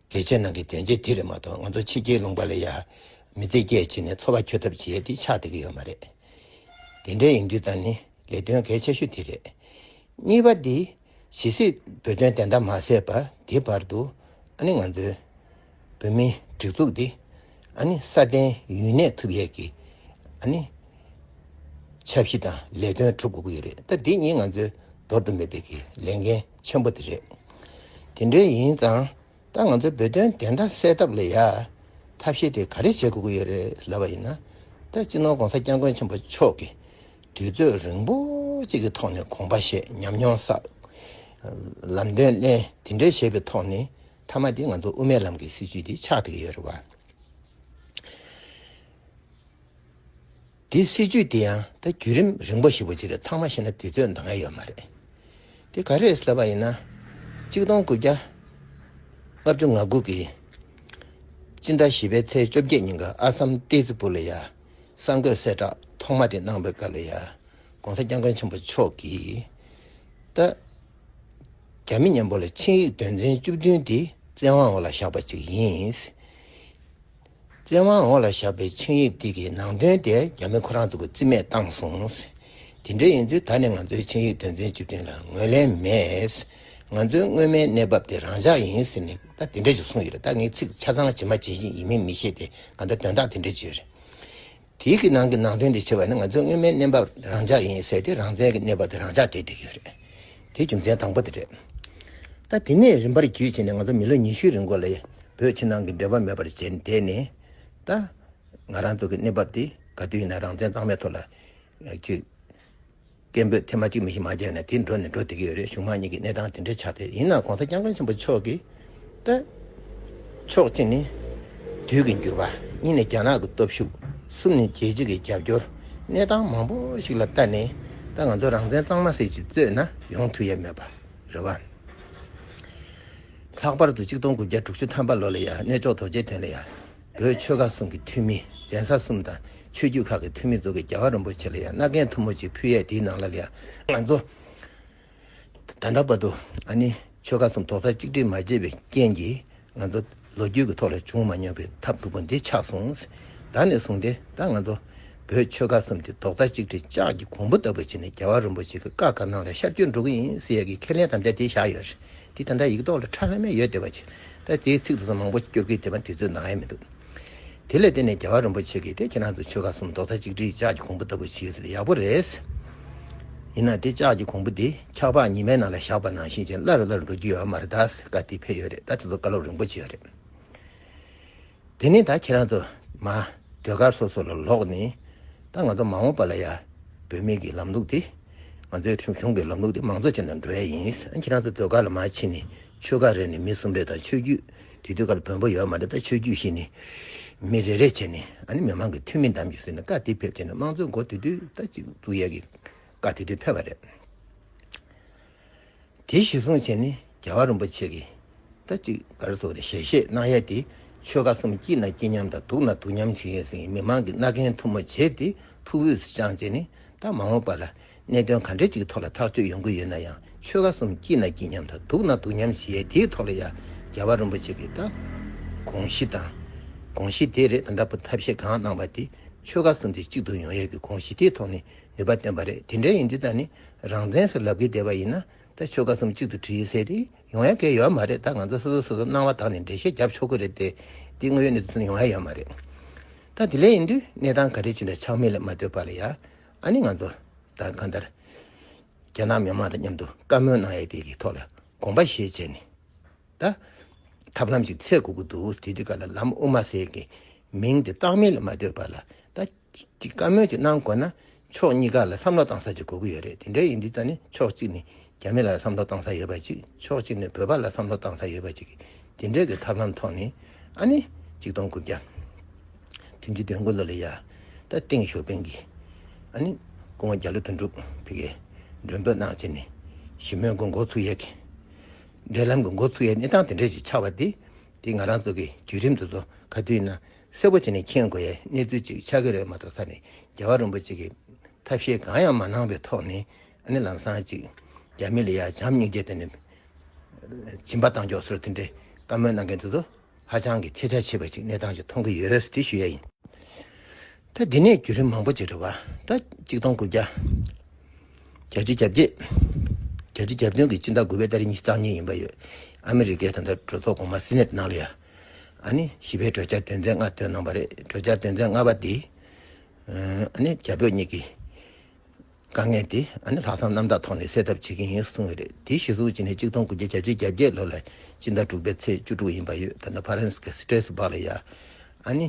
གལ་ཆེ་ནང་གི་དོན་ཆེན་དེ་རེད་མ་གཏོགས་ང་ཚོ་ཕྱི་རྒྱལ་ལུང་པ་ལ་ཡ་མི་རྩེད་སྐྱེད་བྱེད་ནས་འཚོ་བ་འཁྱོལ་ཐབས་བྱེད་དེ་ཆགས་བསྡད་ཀྱི་ཡོད་མ་རེད། དེ་འདྲའི་ཡིན་དུས་ད་ནི་ལས་དོན་གལ་ཆེ་ཤོས་དེ་རེད། གཉིས་པ་དེ། ཇི་སྲིད་བོད་དོན་བདེན་མཐའ་མ་གསལ་བ་དེ་བར་དུ་ཨ་ནི་ང་ཚོའི་བོད་མིའི་སྒྲིག་འཛུགས་འདི་ཨ་ནི་སྲ་བརྟན་ཡུན་གནས་ཐུབ་ཡས་ཀྱི་ཨ་ནི་འཆར་གཞི་དང་ལས་དོན་གྲུབ་དགོས་ཀྱི་ཡོད་རེད་ད་འདི་གཉིས་ང་ཚོའི་འདོར་དུ་མེད་པའི་གི་ལས་འགན་ཆེན་པོ་དེ་རེད། དེ་འདྲའི་ཡིན་ཙང་ད་ང་ཚོའི་བོད་དོན་བདེན་མཐའ་གསལ་ཐབས་ལ་ཡ་ཐབས་ཤེས་དེ་ག་རེ་བྱེད་དགོས་ཀྱི་ཡོད་རེད་ལབ་པ་ཡིན་ན་ད་སྤྱི་ནོར་གོང་ས་སྐྱབས་མགོན་ཆེན་པོ་མཆོག་གི་དུས་ཚོད་རིང་པོ་གཅིག་གི་ཐོག་ནས་གོང་པ་ཞེས་ཉམས་མྱོང་བསགས། ལམ་སྟོན་གླེང་དེ་འདྲའི་བྱས་པའི་ཐོག་ནས་མཐའ་མ་དེ་ང་ཚོ་དབུ་མའི་ལམ་གྱི་སྲིད་བྱུས་དེ་ཆགས་འདུག་ཡོད་རེད་བ། དེ་སྲིད་བྱུས་དེ་ཡང་ད་བརྒྱུད་རིམ་རིང་པོ་ཞིག་པོ་ཅི་རེད་ཚང་མ་ཤེས་ན་དུས་ཚོད་འདང་ངེས་ཡོད་མ་རེད། དེ་ག་རེད་ཟེར་བ་ཡིན་ན། གཅིག་སྟོང་དགུ་བརྒྱ་ལྔ་བཅུ་ང་དགུ་གི་སྤྱི་ཟླ་བཞི་པའི་ཚེས་བཅོ་བརྒྱད་ཉིན་ག་ཨ་སམ་ཏེ་ཙི་པུ་ལ་ཡ་གསར་འགོད་གསལ་བསྒྲགས་ཐོག་མ་དེ་གནང་བའི་སྐབས་ལ་ཡང ྋགོང་ས ྋསྐྱབས་མགོན་ཆེན་པོ་མཆོག་གིས། ད་རྒྱ་མི་གཉན་པོ་ལ་ཆིངས་ཡིག་དོན་ཚན་བཅུ་བདུན་དེ་བཙན་དབང་འོག་ལ་བཞག་པ་ཅིག་ཡིན། བཙན་དབང་འོག་ལ་བཞག་པའི་ཆིངས་ཡིག་དེ་གི་ནང་དོན་དེ་རྒྱ་མི་ཁོ་རང་ཚོ་གི་རྩིས་མེད་བཏང་སོང། དེ་འདྲ་ཡིན་ཚེ་ད་ནི་ང་ཚོའི་ཆིངས་ཡིག་དོན་ཚན་བཅུ་བདུན་ལ་ངོས་ལེན་མེད། ང་ཚོའི་སྔོན་མའི་གནས་བབ་དེ་རང་འཇགས་ཡིན་ཟེར་ནས་ད་དེ་འདྲ་ཞིག་གསུངས་ཡོད་རེད་ད་ངས་ཚིག་ཆ་ཚང་ཇི་མ་ཇི་བཞིན་ཡིན་མིན་མི་ཤེས་ཏེ་གང་ལྟར་དོན་དག་དེ་འདྲ་བརྗོད་རེད། དེའི་གི་ནང་གི་ནང་དོན་དེ་ཆེ་བ་ནི་ང་ཚོའི་སྔོན་མའི་གནས་བབ་རང་འཇགས་ཡིན་ཟེར་ཏེ་རང་བཙན་གྱི་གནས་བབ་དེ་རང་འཇགས་བྱས་བསྡད་ཡོད་རེད། དེའི་རྒྱུ་མཚན་དང་པོ་དེ་རེད། ད་དེ་ནས་རིམ་པར་བརྒྱུད་ཕྱིན་ནས་ང་ཚོ་མི་ལོ་ཉི་ཤུའི་རིང་འགོ་ལ་བོད་ཕྱི་ནང་གི་འབྲེལ་བ་མེད་པར་བྱས་བསྡད་ནས་ད་ང་རང་ཚོ་གི་གནས་བབ་དེ་ག་དུས་ཡིན་ན་རང་བཙན་གཙང་མའི་ཐོག་ལ་བརྒྱུད། སྐད་འབོད་ཐེངས་མ་གཅིག་མི་ཤི་མ་རྒྱག་ནས་དེ་འགྲོ་ནི་འགྲོ་བསྡད་ཀྱི་ཡོད་རེད་གཞུང་དམངས་གཉིས་ཀྱི་གནས་སྟངས་དེ་འདྲའི་ཆགས་ཏེ་ཡིན་ནའང་གོང་ས་སྐྱབས་མགོན་ཆེན་པོ་མཆོག་གིས་བསྟོད། ཕྱོགས་གཅིག་ནི། དུས་ཀྱི་འགྱུར་བ། གཉིས་ནི་རྒྱ་ནག་གི་སྟོབས་ཤུགས། གསུམ་ནི་རྒྱལ་སྤྱི་གི་རྒྱབ་སྐྱོར། གནས་སྟངས་མང་པོ་ཞིག་ལ་བལྟ་ནས་ད་ང་ཚོ་རང་བཙན་གཙང་མ་སེ་ཞིག་རྩོད་ན་ཡོང་ཐུབ་ཡས་མེད་པ་རེད་བ། ལྷག་པར་དུ་གཅིག་སྟོང་དགུ་བརྒྱ་དྲུག་ཅུ་ཐམ་པ་ལོ་ལ་ཡང་གནས་མཆོག་དོ་རྗེ་དོན་ལ་ཡང། བོད་ཆོལ་ཁ་གསུམ་གྱི་འཐུས་མི་གདན་ས་གསུམ་དང་ཆོས་བརྒྱུད་ཁག་གི་འཐུས་མི་གཙོ་གི་རྒྱལ་བ་རིན་པོ་ཆེ་ལ་ཡང་མནའ་གན་མཐུ་མོ་ཅིག་ཕུལ་ཡས་དེའི་ནང་ལ་ལ་ཡང་ང་ཚོ་ད་ལྟ་བར་དུ་ཨ་ནི་ཆོལ་ཁ་གསུམ་དོག་ས་གཅིག་སྒྲིལ་མ་བྱས་པའི་རྐྱེན་གྱིས་ང་ཚོ་ལོ་རྒྱུས་ཀྱི་ཐོག་ལ་བྱུང་མ་མྱོང་པའི་ཐབས་སྡུག་པོ་འདི་ཆགས་སོང་ཟད་ནས་བཟུང་སྟེ་ད་ང་ཚོ་བོད་ཆོལ་ཁ་གསུམ་གྱི་དོག་ས་གཅིག་སྒྲིལ་ལྕགས་ཀྱི་གོང་བུ་ལྟ་བུ་བྱས་ནས་རྒྱལ་བ་རིན་པོ་ཆེ་གི་བཀའ་དགའ་སྣང་ལ་ཤར་བསྐྱོད་འགྲོ་གི་ཡིན་ཟེར་ཡས་ཀྱི་ཁས་ལེན་དམ་བཅའ་དེ་བཞག་ཡོད། དེ་ད་ལྟ་ཡིག་ཐོག་ལ་ཁྲ་ལྷ་མེད་ཡོད་བསྡད་པ་ཆེ། ད་དེའི་ཚིག་དེ་ཚོ་མང་པོ་སྐྱོར་གི་བསྡད་པ་དེ་ཚོའི་ནང་ཡ་མི་འདུག། དེ་ལས་བསྟན་ནས་རྒྱལ་བ་རིན་པོ་ཆེ་གིས་དེ་ཁྱེད་རང་ཚོ་ཆོལ་ཁ་གསུམ་རྡོག་རྩ་གཅིག་སྒྲིལ་ལྕགས་ཀྱི་གོང་བུ་ལྟ་བུ་བྱེད་ཟེར་ཡག་པོ་རེད། ཡིན་ན་དེ་ལྕགས་ཀྱི་གོང་བུ་དེ་འཁྱག་ལྤགས་ཉི་མའི་ནང་ལ་བཞག་པ་ནང་བཞིན་ཅན་སླར་སླར་འགྲོ་རྒྱུ་ཡོད་མ་རེད་ད་བཀའ་དེ་ཕེབས་ཡོད་རེད་ད་དེ་ཚོ་བཀའ་སློབ་རིང་པོ་བྱས་ཡོད་རེད། དེ་ནས་ད་ཁྱེད་རང་ཚོ་མ་སྡོད་སྒར་སོ་སོ་ལ་ལོག་ནས་ད་ང་ཚོ་མ་འོངས་པ་ལ་ཡ་བོད་མི་གི་ལམ་ལུགས་དེ་ང་ཚོའི་ཁྲིམས་གཞུང་གི་ལམ་ལུགས་དེ་མང་ཚོགས་ཅན་དང་འགྲོ་ཡ་ཡིན་ཨ་ཁྱེད་རང་ཚོ་སྡོད་སྒར་ལ་མ་ཕྱིན་ནས་ཆོལ་ཁ་རེ་ནས་མི་གསུམ་རེ་དང་ཆོས་རྒྱུད་དེ་དུས་སྒར་བོན་པོ་ཡོད་མ་རེད་ད་ཆོས་རྒྱུད་ཤིག་ནས་མི་རེ་རེ་བྱས་ནས་ཨ་ནི་མི་མང་གི་ཐུན་མིན་གདམ་གྱི་ཟེར་ནས་བཀའ་དེ་ཕེབས་བྱས་ནས་དམངས་གཙོའི་འགོ་དེ་དུས་ད་གཅིག་བཙུགས་ཡས་གི་བཀའ་དེ་དུས་ཕེབས་པ་རེད། དེའི་གཞི་བཟུང་བྱས་ནས་རྒྱལ་བ་རིན་པོ་ཆེ་གིས་ཟླ་གཅིག་གར་སོགས་ཀྱི་ཞལ་བཞེས་གནང་ཡས་ཏེ་ཆོལ་ཁ་གསུམ་སྐྱིད་ན་སྐྱིད་མཉམ་དང་སྡུག་ན་སྡུག་མཉམ་བྱེད་ཡས་ཟིན་ཡས་མི་མང་གི་རྣ་གན་མཐུ་མོ་བྱས་ཏེ་ཐུགས་དབུས་སུ་བཅངས་བྱས་ནས་ད་མ་འོངས་པ་ལ་གནད་དོན་ག་འདྲ་ཅིག་གི་ཐོག་ལ་ཐག་གཅོད་ཡོང་གི་ཡོད་ན་ཡང་ཆོལ་ཁ་གསུམ་སྐྱིད་ན་སྐྱིད་མཉམ་དང་སྡུག་ན་སྡུག་མཉམ་བྱེད་ཡས་དེའི་ཐོག་ལ་ཡང་རྒྱལ་བ་རིན་པོ་ཆེ་གིས་ད་དགོངས་གཞི་དང་དགོངས་གཞི་དེ་རེད་ད་ལྟ་བུ་ཐབས་ཤེས་གང་གནང་བ་དེ་ཆོལ་ཁ་གསུམ་དེ་གཅིག་ཏུ་ཡོང་ཡས་ཀྱི་དགོངས་གཞི་དེའི་ཐོག་ནས། ནུས་པ་བཏོན་པ་རེད་དེ་འདྲ་ཡིན་འདི་དག་ནི་རང་བཙན་སོགས་ལབ་གི་བསྡད་པ་ཡིན་ན་ད་ཆོལ་ཁ་གསུམ་གཅིག་ཏུ་བྲིས་ཡོད་ཟེར་དེ་ཡོང་ཡ་གལ་ཡོད་མ་རེད་ད་ང་ཚོ་སོ་སོ་སོ་སོ་སྣང་བ་དག་ནས་འགྲེལ་བཤད་རྒྱབ་ཆོག་གི་རེད་དེ་འདི་དངོས་ཡོད་གནས་ཚུལ་ཡོང་ཡ་ཡོད་མ་རེད་ད་དེ་ལས་ཡིན་དུས་གནས་སྟངས་ག་རེ་བྱེད་འདྲ་ཆགས་མེད་ལ་མ་ལྟོས་པ་ལ་ཡ་ཨ་ནི་ང་ཚོ་ད་གང་ལྟར་རྒྱ་ནག་མི་དམངས་དང་མཉམ་དུ་བཀའ་མོལ་གནང་ཡ་དེ་གི་ཐོག་ལ་དགོངས་པ་བཞེས་བྱས་ནས་ད་ཐབས་ལམ་ཞིག་འཚལ་དགོས་ཀི་འདུག་དེ་དུས་ག་ལ་ལམ་དབུ་མ་ཟེར་གི་མིང་དེ་བཏགས་མེད་ལ་མ་ལྟོས་པ་ལ་ད། གྱི་བཀའ་མོལ་ཅིག་གནང་དགོས་ན་ཕྱོགས་གཉིས་ཀ་ལ་བསམ་བློ་གཏང་ས་ཅིག་དགོས་ཀྱི་ཡོད་རེད་དེ་འདྲའི་ཡིན་དུས་ད་ནི་ཕྱོགས་གཅིག་ནས་རྒྱ་མི་ལ་བསམ་བློ་གཏང་ས་ཡོད་པ་ཅིག་ཕྱོགས་གཅིག་ནས་བོད་པ་ལ་བསམ་བློ་གཏང་ས་ཡོད་པ་ཅིག་དེ་འདྲའི་གི་ཐབས་ལམ་ཐོག་ནས་ཨ་ནི་གཅིག་སྟོང་དགུ་བརྒྱ་དུས་འདི་དོན་དགུ་ལོ་ལ་ཡ་ད་ཏིང་ཞོ་པིང་གིས་ཨ་ནི་སྐུ་ངོ་རྒྱ་ལོ་དོན་དྲུག་ཕི་གས་མགྲོན་འབོད་གནང་བྱས་ནས་ཞི་མོལ་གི་འགོ་ཚུགས་ཡས་གི་འབྲེལ་ལམ་གི་འགོ་ཚུགས་ཡས་གནས་སྟངས་དེ་འདྲའི་ཅིག་ཆགས་པ་དེ་དེ་ང་རང་ཚོ་གི་བརྒྱུད་རིམ་དེ་ཚོ་ག་དུས་ན། གསལ་པོ་བྱས་ནས་མཁྱེན་དགོས་ཡའི་གནས་ཚུལ་ཅིག་ཆགས་ཀྱི་རེད་མ་གཏོགས་ད་ནི་རྒྱལ་བ་རིན་པོ་ཆེ་གིས་ཐབས་ཤེས་གང་ཡང་མ་གནང་བའི་ཐོག་ནས་ནི་ལམ་སང་ཅིག་རྒྱ་མི་ལ་ཡ་བྱམས་སྙིང་རྗེ་བསྟན་ནས་སྦྱིན་པ་བཏང་ཆོག་ཟེར་དེ་འདྲའི་བཀའ་མོལ་གནང་མཁན་དེ་ཚོ་ཧ་ཅང་གི་ཁྱད་ཆ་ཆེ་བ་ཞིག་གནས་སྟངས་ཤིག་མཐོང་གི་ཡོད་ཟེར་དེ་ཞུ་ཡ་ཡིན། ད་འདི་ནས་བརྒྱུད་རིམ་མང་པོ་ཅིག་རེད་བ་ད་གཅིག་སྟོང་དགུ་བརྒྱ་གྱ་བཅུ་གྱ་བརྒྱད་གྱ་བཅུ་གྱ་བདུན་གྱི་སྤྱི་ཟླ་དགུ་བའི་ཟླ་རེ་གཉིས་སྟག་ཉིན་ཡིན་པ་ཡོད་ཨ་མི་རི་ཀའི་ད་ལྟ་གྲོས་ཚོགས་གོང་མ་སི་ནེ་ཏི་ནང་ལ་ཡ་ཨ་ནི་བཞི་པའི་བགྲོད་བྱ་དོན་ཚན་ལྔ་བཏོན་གནང་བ་རེད་བགྲོད་བྱ་དོན་ཚན་ལྔ་པ་དེ་ཨ་ནི་རྒྱ་བོད་གཉིས་ཀྱི་དཀའ་ངལ་དེ་ཨ་ནི་ལྷག་བསམ་རྣམ་དག་ཐོག་ནས་སེལ་ཐབས་བྱེད་མཁན་ཡིན་གསུངས་ཡོད་རེད་དེའི་གཞི་ཟུར་གཅིག་ནས་གཅིག་སྟོང་དགུ་བརྒྱ་གྱ་བཅུ་གྱ་བརྒྱད་ལོ་ལ་སྤྱི་ཟླ་དྲུག་པའི་ཚེས་བཅུ་དྲུག་ཡིན་པ་ཡོད་ད་ནི་ཕ་རན་སི་གི་སི་ཏྲེ་སི་བག་ལ་ཡ་ཨ་ནི་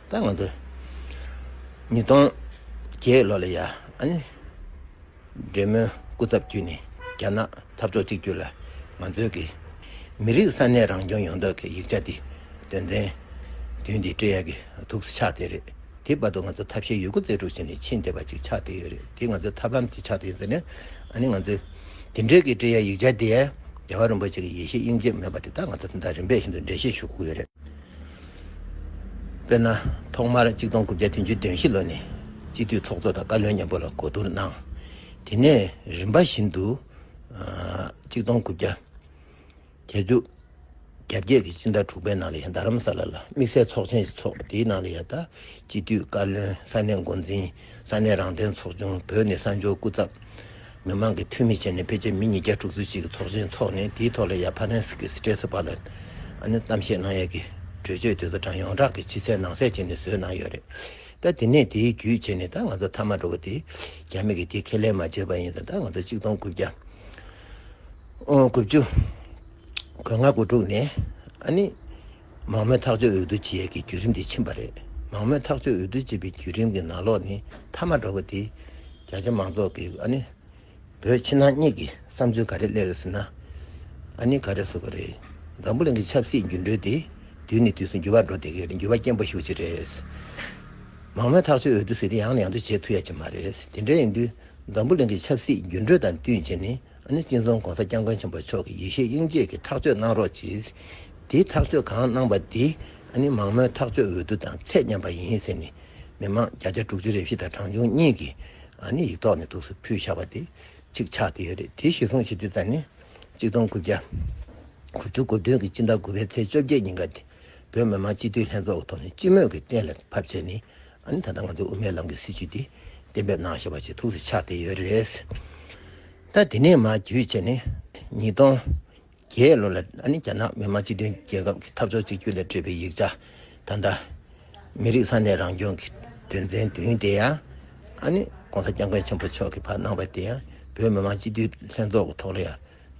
ད་ང་ཚོ་ཉིས་སྟོང་བརྒྱད་ལོ་ལ་ཡ་རེད་མོད་སྐུ་ཚབ་བརྒྱུད་ནས་རྒྱ་ནག་འཐབ་ཕྱོགས་གཅིག་གྱུར་ལ་ང་ཚོའི་གི་མི་རིགས་ས་གནས་རང་སྐྱོང་ཡོང་ཐབས་ཀྱི་ཡིག་ཆ་འདི་དོན་ཚན་བདུན་འདི་སྤྲེལ་ཡག་གི་ཐུགས་སྲས་ཆགས་བསྡད་རེད་དེའི་བར་དུ་ང་ཚོ་ཐབས་ཤེས་ཡོད་རྒུ་རྩལ་སྤྲུགས་བྱས་ནས་ཕྱིན་བསྡད་པ་ཅིག་ཆགས་བསྡད་ཡོད་རེད་དེ་ང་ཚོའི་ཐབས་ལམ་ཅིག་ཆགས་བསྡད་ཡོད་ཟེར་ནས་ཨ་ནི་ང་ཚོའི་དེ་འབྲེལ་གི་སྤྲེལ་ཡག་ཡིག་ཆ་འདི་རྒྱལ་བ་རིན་པོ་ཆེ་གི་ཡེ་ཤེས་དབྱིངས་དཔྱད་མོས་པ་དེ་དག་ང་ཚོ་དེ་དང་རིམ་པས་ཤིན་ཏུ་འབྲེལ་བཤད་ཞུ་དགོས་ཀྱི་ཡོད་རེད། དཔེར་ན། ཐོག་མར་གཅིག་སྟོང་དགུ་བརྒྱ་བདུན་ཅུ་བདུན་བཞི་ལོ་ནས་སྤྱི་འཐུས་ཚོགས་གཙོ་དང་བཀའ་བློན་མཉམ་པོ་ལ་གོ་བསྡུར་གནང། དེ་ནས་རིམ་པ་བཞིན་དུ། གཅིག་སྟོང་དགུ་བརྒྱ་གྱ་བཅུ་གྱ་བརྒྱད་ཀྱི་སྤྱི་ཟླ་དྲུག་པའི་ནང་ལ་ཡང་རྡ་རམ་ས་ལ་ལ་དམིགས་བསལ་ཚོགས་ཆེན་ཞིག་ཚོགས་དེའི་ནང་ལ་ཡང་བཀྲ་ཤིས་བཀའ་བློན་ས་གནས་འགོ་འཛིན་ས་གནས་རང་བདེན་ཚོགས་ཆུང་བོད་ནི་གསར་འབྱོར་སྐུ་ཚབ་མི་མང་གི་འཐུས་མི་བྱས་ནས་ཕལ་ཆེར་མི་ཉིས་བརྒྱ་དྲུག་ཅུ་གཅིག་གི་ཚོགས་ཆེན་འཚོགས་ནས་དེའི་ཐོག་ལ་ཡ་ཕ་རན་སི་ཀི་སི་ཏྲེ་སི་པ་ལན་ཨན་གཏམ་བཤད་གནང་ཡས་ཀི་གྲོས་ཆོད་དེ་ཚོ་དྲང་ཡོངས་གྲགས་ཀི་ཕྱི་གསལ་ནང་གསལ་བྱས་ནས་བཟོས་གནང་ཡོད་རེད་ད་དེ་ནས་དེའི་བརྒྱུད་བྱས་ནས་ད་ང་ཚོ་མཐའ་མ་འགྲོ་གི་དེ་རྒྱ་མི་གི་དེ་ཁས་ལེན་མ་བྱས་པ་ཡིན་ད་ད་ང་ཚོ་གཅིག་སྟོང་དགུ་བརྒྱ་དགུ་བཅུ་གོས་ལྔ་དགུ་དྲུག་ནས་ཨ་ནི། མང་མོས་ཐག་གཅོད་འོས་བསྡུ་བྱེད་ཡས་ཀྱི་བརྒྱུད་རིམ་དེ་ཕྱིན་པ་རེད། མང་མོས་ཐག་གཅོད་འོས་བསྡུ་བྱེད་པའི་བརྒྱུད་རིམ་གྱི་ནང་ལོགས་ནི་མཐའ་མ་འགྲོ་བ་དེ། རྒྱ་ཆེ་མང་ཚོགས་ཀྱི་ཨ་ནི། བོད་ཕྱི་ནང་གཉིས་ཀྱི་བསམ་ཚུལ་ག་རེ་གླེང་རེ་ཟེར་ན། ཨ་ནི་ག་རེ་བཟོ་གི་རེད། འཛམ་བུ་གླིང་གི་ཆབ་སྲིད་འགྱུར་འགྲོས་དེ་དུས་ནས་དུས་སུ་འགྱུར་བ་འགྲོ་བསྡད་ཀྱི་རེད་འགྱུར་བ་སྐྱེན་པོ་ཞིག་ཅིག་རེད། མང་མོས་ཐག་གཅོད་འོས་བསྡུ་ཟེར་དུས་ཡང་ནས་ཡང་དུ་བྱེད་ཐུབ་ཡ་ཅིག་མ་རེད། དེ་འདྲ་ཡིན་དུས་འཛམ་བུ་གླིང་གི་ཆབ་སྲིད་འགྱུར་འགྲོས་དང་བསྟུན་བྱས་ནས་ནི་སྤྱི་མཚུངས ྋགོང་ས ྋསྐྱབས་མགོན་ཆེན་པོ་མཆོག་གིས་ཡེ་ཤེས་དབྱིངས་དཔྱད་ཀྱི་ཐག་གཅོད་གནང་རོགས་གྱིས། དེའི་ཐག་གཅོད་གང་གནང་པ་དེ་ནི་མང་མོས་ཐག་གཅོད་འོས་བསྡུ་དང་ཚད་མཉམ་པ་ཡིན་ཟེར་ནས་མི་མང་བརྒྱ་ཆ་དྲུག་ཅུ་རེ་བཞི་དང་གྲངས་ཆུང་གཉིས་ཀྱིས་ཡིག་ཐོག་ནས་ཐུགས་སུ་ཕུལ་བཞག་པ་དེ་གཅིག་ཆགས་བསྡད་ཡོད་རེད་དེ་གཞི་བཟུང་བྱེད་རྒྱུ་ཙམ་ནི་གཅིག་སྟོང་དགུ་བརྒྱ་དགུ་ཅུ་དགུ་བདུན་གྱི་སྤྱི་ཟླ་དགུ་པའི་ཚེས་བཅོ་བརྒྱད་ཉིན་ག་དེ་བོད་མི་མང་སྤྱི་འཐུས་ལྷན་ཚོགས་ཀྱི་ཐོག་ནས་སྤྱི་མོས་ཀྱིས་གཏན་ལ་ཕབ་བྱས་ནས་ད་ལྟ་ང་ཚོས་དབུ་མའི་ལམ་གྱི་སྲིད་བྱུས་འདི་གཏན་འབེབས་གནང་ཞེས་པ་ཆེས་ཐུགས་སུ་ཆགས་བསྡད་ཡོད་རེད། ད་དེ་ནས་མ་བརྒྱུད་ཕྱི་ནས་ཉིས་སྟོང་བརྒྱད་ལོ་ལ་རྒྱ་ནག་མི་དམངས་སྤྱི་མཐུན་རྒྱལ་ཁབ་ཀྱི་འཐབ་ཕྱོགས་གཅིག་གྱུར་ལ་སྤྲོད་པའི་ཡིག་ཆ་ད་ལྟ་མི་རིགས་ས་གནས་རང་སྐྱོང་གི་དོན་ཚན་བདུན་དེ་ཡང ྋགོང་ས ྋསྐྱབས་མགོན་ཆེན་པོ་མཆོག་གིས་ཕར་གནང་བ་དེ་ཡང་བོད་མི་དམངས་སྤྱི་མཐུན་ལྷན་ཚོགས་ཀྱི་ཐོག་ལ་ཡང་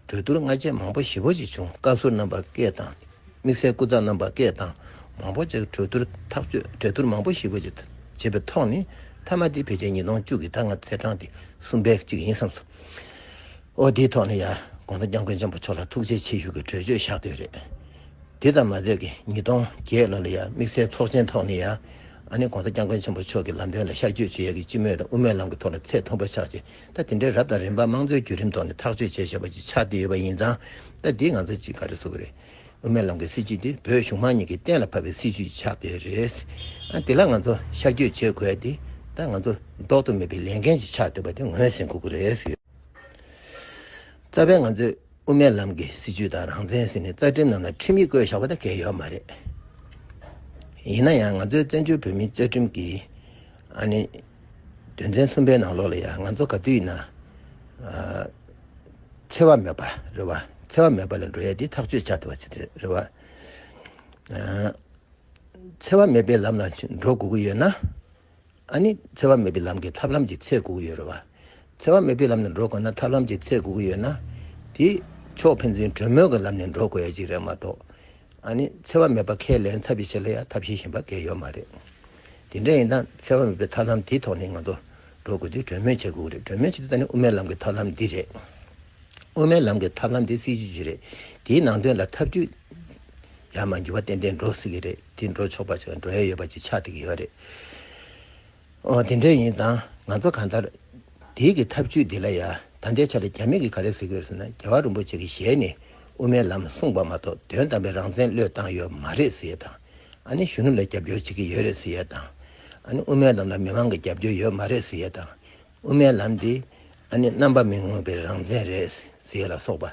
གྲོས་བསྡུར་སྔ་རྗེས་མང་པོ་ཞེ་བོ་ཞིག་བྱུང་བཀའ་ཟུར་རྣམ་པ་སྐད་དང། དམིགས་བསལ་སྐུ་ཚབ་རྣམ་པ་སྐད་དང་མང་པོ་བཅས་གྲོས་བསྡུར་ཐག་གཅོད་གྲལ་བསྡུར་མང་པོ་ཞེ་བོ་ཞིག་བྱས་པའི་ཐོག་ནས་མཐའ་མ་དེ་ཕལ་ཆེར་ཉིས་སྟོང་བཅུ་གྱི་ཟླ་ལྔ་ཚེས་གྲངས་ཏེ་གསུམ་པའི་གཅིག་ཡིན་བསམས་སོང། འོ་དེའི་ཐོག་ནས་ཡང་དགོངས་དོན་སྐྱབས་མགོན་ཆེན་པོ་མཆོག་ལ་ཐུགས་རྗེ་ཆེ་ཞུ་གི་གྲོས་ཆོད་བཞག་འདོད་རེད། དེ་ཙམ་མ་ཟད་ཀྱི་ཉིས་སྟོང་བརྒྱད་ལོ་ལ་ཡང་དམིགས་བསལ་ཚོགས་ཆེན་ཐོག་ནས་ཡང་ཨ་ནེ་དགོངས་དོན་སྐྱབས་མགོན་ཆེན་པོ་མཆོག་གི་ལམ་སྟོན་ལ་ཤར་བསྐྱོད་བྱེད་ཡ་གི་སྤྱི་མོས་དང་དབུ་མའི་ལམ་གྱི་ཐོག་ལ་ཚད་མཐོན་པོ་ཆགས་ཆེ་ད་དེ་འདྲའི་རབ་དང་རིམ་པ་དམངས་གཙོའི་བརྒྱུད་རིམ་ཐོག་ནས་ཐག་གཅོད་བྱས་ཞེས་པ་ཅིག་ཆགས་བསྡད་ཡོད་པ་ཡིན་ཙང་ད་འདིས་ང་ཚོ་ཅིག་ག་རེ་བཟོ་གི་རེད། དབུ་མའི་ལམ་གྱི་སྲིད་བྱུས་དེ་བོད་གཞུང་མང་གཉིས་ཀྱིས་གཏན་ལ་ཕབ་པའི་སྲིད་བྱུས་ཆགས་བསྡད་རེད། དེ་ལ་ང་ཚོ་ཤར་བསྐྱོད་བྱེད་དགོས་ཏེ་ད་ང་ཚོ་ལྡོག་ཏུ་མེད་པའི་ལས་འགན་ཅིག་ཆགས་བསྡད་པ་དེ་ངོས་ཟིན་དགོས་ཀྱི་རེད། རྩ་བའི་ང་ཚོས་དབུ་མའི་ལམ་གྱི་སྲིད་བྱུས་དང་རང་བཙན་ཟེར་ནས་རྩ་ཁྲིམས་ནང་ལ་ཁྲིམས་ཡིག་བཀོད་བཞག་པ་དེ་འགལ་ཡོད་མ་རེད། ཡིན་ན་ཡང་ང་ཚོའི་བཙན་བྱོལ་བོད་མིའི་བཅའ་ཁྲིམས་ཀྱི་ཨ་ནི། དོན་ཚན་གསུམ་པའི་ནང་ལོགས་ལ་ཡང་ང་ཚོ་ག་དུས་ཡིན་ན། འཚེ་བ་མེད་པ་རེད་བ། འཚེ་བ་མེད་པ་ལ་འགྲོ་ཡ་དེ་ཐག་གཅོད་བྱ་ཐུབ་པ་ཅིག་རེད་བ། འཚེ་བ་མེད་པའི་ལམ་ལ་འགྲོ་དགོས་ཀྱི་ཡོད་ན། ཨ་ནི་འཚེ་བ་མེད་པའི་ལམ་གྱི་ཐབས་ལམ་གྱི་ཚད་དགོས་ཀྱི་ཡོད་རེད་བ། འཚེ་བ་མེད་པའི་ལམ་ནས་འགྲོ་དགོས་ན་ཐབས་ལམ་གྱི་ཚད་དགོས་ཀྱི་ཡོད་ན། དེ་ཕྱོགས་ཕན་ཚུན་གྲོས་མོལ་གྱི་ལམ་ནས་འགྲོ་དགོས་ཡ་ཅིག་རེད་མ་གཏོགས། ཨ་ནི་འཚེ་བ་མེད་པ་ཁས་ལེན་ཐབས་ཀྱི་ཆེད་ལ་ཡང་ཐབས་ཤེས་བཞིན་པ་འགལ་ཡོད་མ་རེད། དེ་འདྲ་ཡིན་ན་འཚེ་བ་མེད་པའི་ཐབས་ལམ་དེའི་ཐོག་ནས་ང་ཚོ་འགྲོ་དགོས་དུས་གྲོས་མོལ་བྱེད་དགོས་ཀྱི་རེད་གྲོས་མོལ་བྱེད་དུས་ད་ནི་དབུ་མའི་ལམ་གྱི་ཐབས་ལམ་འདི་རེད། དབུ་མའི་ལམ་གྱི་ཐབས་ལམ་དེ་སྲིད་ཇུས་ཅིག་རེད་དེའི་ནང་དོན་ལ་ཐབས་ཇུས་ཡར་མར་འགྱུར་བ་ཏན་ཏན་འགྲོ་སྲིད་ཀྱི་རེད་དེ་འགྲོ་ཆོག་པ་ཞིག་ལ་འགྲོ་ཡ་ཡོད་པ་ཅིག་ཆགས་སྡད་ཀྱི་ཡོད་རེད། ཨོ་དེ་འདྲ་ཡིན་ཙང་ང་ཚོ་གང་ལྟར་དེའི་གི་ཐབས་བྱུས་འདི་ལ་ཡ་ད་ལྟའི་ཆ་ལ་རྒྱ་མི་གི་ག་རེ་ཟེར་གི་ཡོད་ཟེར་ན་རྒྱལ་བ་རིན་པོ་ཆེ་གི་ཞལ་ནས་དབུ་མའི་ལམ་གསུངས་པ་མ་གཏོགས་དོན་དམ་པའི་རང་བཙན་བློས་བཏང་ཡོད་མ་རེད་ཟེར་ཡས་དང་ཨ་ནི་གཞོན་ནུ་ལ་རྒྱབ་སྐྱོར་བྱེད་གི་ཡོད་རེད་ཟེར་ཡས་དང་ཨ་ནི་དབུ་མའི་ལམ་ལ་མི་མང་གི་རྒྱབ་སྐྱོར་ཡོད་མ་རེད་ཟེར་ཡས་དང་དབུ་མའི་ལམ་དེ་ཨ་ནི་རྣམ་པ་མི་མངོན་པའི་རང་བཙན་རེད་ཟེར་ཡས་ལ་སོགས་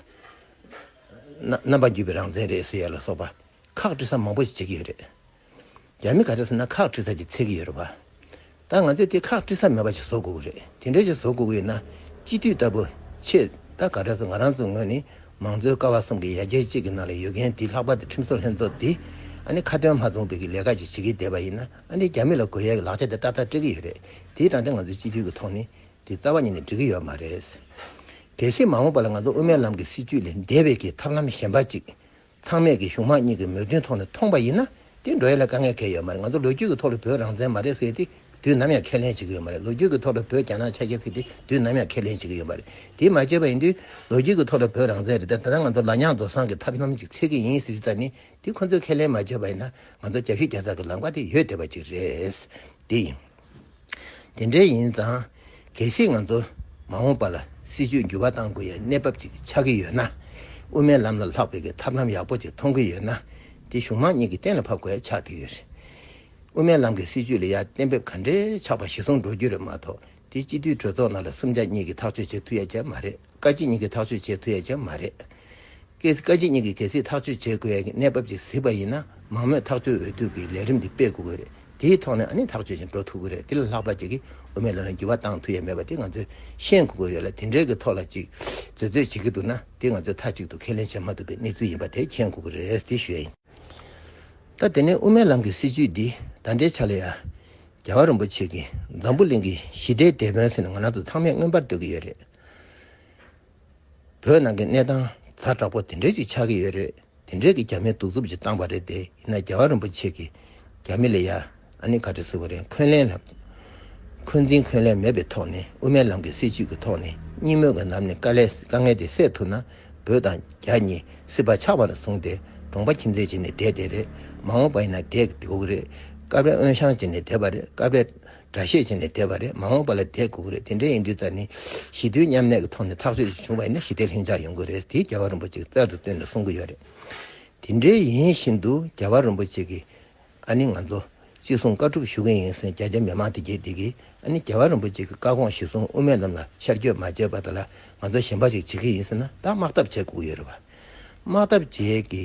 པ། རྣམ་པ་བརྒྱུད་པའི་རང་བཙན་རེད་ཟེར་ཡས་ལ་སོགས་པ་ཁག་དཀྲི་ས་མང་པོ་ཞིག་བྱེད་གི་ཡོད་རེད། རྒྱ་མི་ག་རེ་ཟེར་ན་ཁག་དཀྲི་ས་ཅིག་འཚལ་གྱི་ཡོད་རེད་བ། ད་ང་ཚོས་དེ་ཁག་དཀྲི་ས་མེད་པ་ཞིག་བཟོ་དགོས་ཀྱི་རེད་དེ་འདྲ་ཞིག་བཟོ་དགོས་ཀྱི་ཡོད་ན་སྤྱི་འཐུས་ལྟ་བུ་ཆེས་ད་ག་རེ་ཟེར་ང་རང་ཚོའི་ངོས་ནས་མང་གཙོའི་ཀ་བ་གསུམ་གྱི་ཡ་གྱལ་གཅིག་གི་ནང་ལ་ཡོད་མཁན་དེ་ལྷག་པ་དེ་ཁྲིམས་བཟོ་ལྷན་ཚོགས་དེ་ཨ་ནི་ཁ་དོན་མ་མཚུངས་པའི་གི་ལས་ཀ་ཅིག་བྱེད་ཀྱི་བསྡད་པ་ཡིན་ན་ཨ་ནི་རྒྱ་མི་ལ་དགོས་ཡ་གི་ལག་ཆ་དེ་ཏག་ཏག་སྤྲད་ཀྱི་ཡོད་རེད་དེའི་དྲང་བདེན་ང་ཚོའི་སྤྱི་འཐུས་ཀྱི་ཐོག་ནས་དེ་རྩ་བ་ཉིད་ནས་འགྲིག་གི་ཡོད་མ་རེད། གལ་སྲིད་མ་འོངས་པ་ལ་ང་ཚོ་དབུ་མའི་ལམ་གྱི་སྲིད་བྱུས་ལས་འདས་པའི་གི་ཐབས་ལམ་གཞན་པ་ཅིག་ཚང་མས་ཀྱི་གཞུང་དམངས་གཉིས་ཀྱི་མོས་མཐུན་ཐོག་ནས་མཐོང་པ་ཡིན་ན་དེ་འགྲོ་ཡ་ལས་དཀའ་ངལ་འཁེལ་ཡོད་མ་རེད་ང་ཚོ་ལོ་རྒྱུས་ཀྱི་ཐོག་ལ་བོད་རང་བཙན་མ་རེད་ཟེར་ཏེ་དུས་ནམ་ཡང་ཁས་ལེན་བྱེད་ཀྱི་ཡོད་མ་རེད་ལོ་རྒྱུས་ཀྱི་ཐོག་ལ་བོད་རྒྱ་ནག་ཆ་ཤས་ཟེར་ཏེ་དུས་ནམ་ཡང་ཁས་ལེན་བྱེད་ཀྱི་ཡོད་མ་རེད་དེ་མ་བྱས་པ་ཡིན་དུས་ལོ་རྒྱུས་ཀྱི་ཐོག་ལ་བོད་རང་བཙན་རེད་ད་ད་ལྟ་ང་ཚོ་ལ་ཉག་རྡོ་བཟང་གི་ཐབས་ལམ་ཅིག་འཚོལ་གྱི་ཡིན་ཟེར་རྒྱུ་ད་ནི་དེ་ཁོ་ཚོས་ཁས་ལེན་མ་བྱས་པ་ཡིན་ན་ང་ཚོ་རྒྱ་ཤུགས་རྒྱ་ཚག་གི་ལམ་ཀ་དེ་ཡོད་བསྡད་པ་ཅིག་རེད་དེ་ཡིན། དེ་འདྲ་ཡིན་ཙང་གལ་སྲིད་ང་ཚོ་མ་འོངས་པ་ལ་སྲིད་ཇུས་འགྱུར་བ་གཏང་དགོས་ཡའི་གནས་བབ་ཅིག་ཆགས་ཀྱི་ཡོད་ན། དབུ་མའི་ལམ་ལ་ལྷག་པའི་གི་ཐབས་ལམ་ཡག་པོ་ཅིག་མཐོང་གི་ཡོད་ན་དེ་གཞུང་མང་གཉིས་ཀྱི་གཏན་ལ་ཕབ་དགོས་ཡ་ཆགས་ཀྱི་ཡོད། དབུ་མའི་ལམ་གྱི་སྲིད་ཇུས་ལ་ཡ་གཏན་འབེབས་ག་འདྲའི་ཆགས་པ་གཞི་བཟུང་འགྲོ་རྒྱུ་རེད་མ་གཏོགས་དེ་སྤྱི་འཐུས་གྲོས་ཚོགས་ནང་ལ་སུམ་ཆ་གཉིས་ཀྱིས་ཐག་གཅོད་བྱེད་ཐུབ་ཡ་ཅལ་མ་རེད། བཀའ་སྤྱི་གཉིས་ཀྱིས་ཐག་གཅོད་བྱེད་ཐུབ་ཡ་ཀྱང་མ་རེད། ཀྱེ། བཀའ་སྤྱི་གཉིས་ཀྱིས་གལ་སྲིད་ཐག་གཅོད་བྱེད་དགོས་ཡ་ཀྱི་གནས་བབ་ཅིག་གཟིགས་པ་ཡིན་ན་མང་མོས་ཐག་གཅོད་འོས་བསྡུ་གྱི་ལས་རིམ་འདི་སྤེལ་དགོས་ཀྱི་རེད། དེའི་ཐོག་ནས་ཨ་ནི་ཐག་གཅོད་ཅིག་འགྲོ་ཐུབ་ཀྱི་རེད་དེ་ལ་ལྷག་པ་ཅིག་གིས་དབུ་མའི་ལམ་ལ་འགྱུར་བ་བཏང་ཐུབ་ཡ་མེད་པ་དེ་ང་ཚོས་ཤེས་དགོས་ཀྱི་རེད་ལ་དེ་འདྲའི་གི་ཐོག་ལ་ཅིག་བརྫོད་བརྫོད་བྱེད་ཀྱི་འདུག་ན་དེ་ང་ཚོས་མཐའ་གཅིག་ཏུ་ཁས་ལེན་བྱེད་མ་ཐུབ་པའི་གནས་ཚུལ་ཡིན་པ་དེ་མཁྱེན་དགོས་ཀྱི་རེད་དེ་ཞོའི་ཡིན། ད་དེ་ནས་དབུ་མའི་ལམ་གྱི་སྲིད་བྱུས་འདི་ད་ལྟའི་ཆ་ལ་ཡ། རྒྱལ་བ་རིན་པོ་ཆེ་གྱིས་འཛམ་བུ་གླིང་གི་ཞི་བདེའི་དེད་དཔོན་ཟེར་ནས་ང་རང་ཚོ་ཚང་མས་མངོན་པར་འདོད་ཀྱི་ཡོད་རེད། བོད་ནང་གི་གནས་སྟངས་ཛ་དྲག་པོ་དེ་འདྲའི་ཞིག་ཆགས་ཀྱི་ཡོད་རེད་དེ་འདྲའི་གི་རྒྱ་མིའི་གདུག་རྩུབ་ཅིག་བཏང་པ་རེད་དེ་ཡིན་ན་རྒྱལ་བ་རིན་པོ་ཆེ་གི་རྒྱ་མི་ལས་ཡ་ཨ་ནི་ག་རེ་ཟེར་བ་རེད་འཁོན་ལན་ལ་འཁོན་འཛིན་འཁོན་ལན་མེད་པའི་ཐོག་ནས་དབུ་མའི་ལམ་གི་སྲིད་བྱུས་ཀྱི་ཐོག་ནས་སྙིང་དམོད་ཀྱི་ལམ་ནས་དཀའ་ལས་དཀའ་ངལ་དེ་སེལ་ཐུབ་ན་བོད་དང་རྒྱ་གཉིས་སྲིད་པ་ཆགས་པ་ལ་བཟུང་སྟེ་གྲོང་པ་ཁྱིམ་མཚེས་བྱས་ནས་བསྡད་བསྡད་རེད་མ་འོངས་པ་ཡིན་ན་བསྡད་དགོས་རེད་སྐབས་རེ་དབོན་ཞང་བྱས་ནས་བསྡད་པ་རེད་སྐབས་རེ་འདྲ་ཤས་ཆེ་ནས་བསྡད་པ་རེད་མ་འོངས་པ་ལ་བསྡད་དགོས་ཀྱི་རེད་དེ་འདྲ་ཡིན་དུས་ཙཱ་ནི་ཞི་དུལ་མཉམ་གནས་ཀྱི་ཐོག་ནས་ཐག་གཅོད་ཅིག་བྱུང་བ་ཡིན་ན་ཞི་བདེ་ལྷིང་འཇགས་ཡོང་གི་རེད་དེ་རྒྱལ་བ་རིན་པོ་ཆེ་གིས་རྩལ་དུ་བཏོན་ནས་གསུང་གི་ཡོད་རེད་དེ་འདྲའི་ཡིན་བཞིན་དུ་རྒྱལ་བ་རིན་པོ་ཆེ་གིས་ཨ་ནི་ང་ཚོ་གཅིག་གསུང་བཀའ་སྒྲུབ་ཞུ་གི་ཡིན་ཟེར་རྒྱ་རྒྱ་མི་མང་དེ་རྒྱས་བསྡད་ཀྱིས་ཨ་ནི་རྒྱལ་བ་རིན་པོ་ཆེ་གིས་བཀའ་དགོངས་གཞི་བཟུང་དབུ་མའི་ལམ་ལ་ཤར་བསྐྱོད་མ་བྱས་པ་དེ་ལ་ང་ཚོ་ཞེན་པ་ཞིག་བྱེད་ཀྱི་ཡིན་ཟེར་ན་ད་དམག་འཐབ་བྱེད་དགོས་ཀྱི་ཡོད་རེད་བ་དམག་འཐབ་བྱེད་ཀྱི་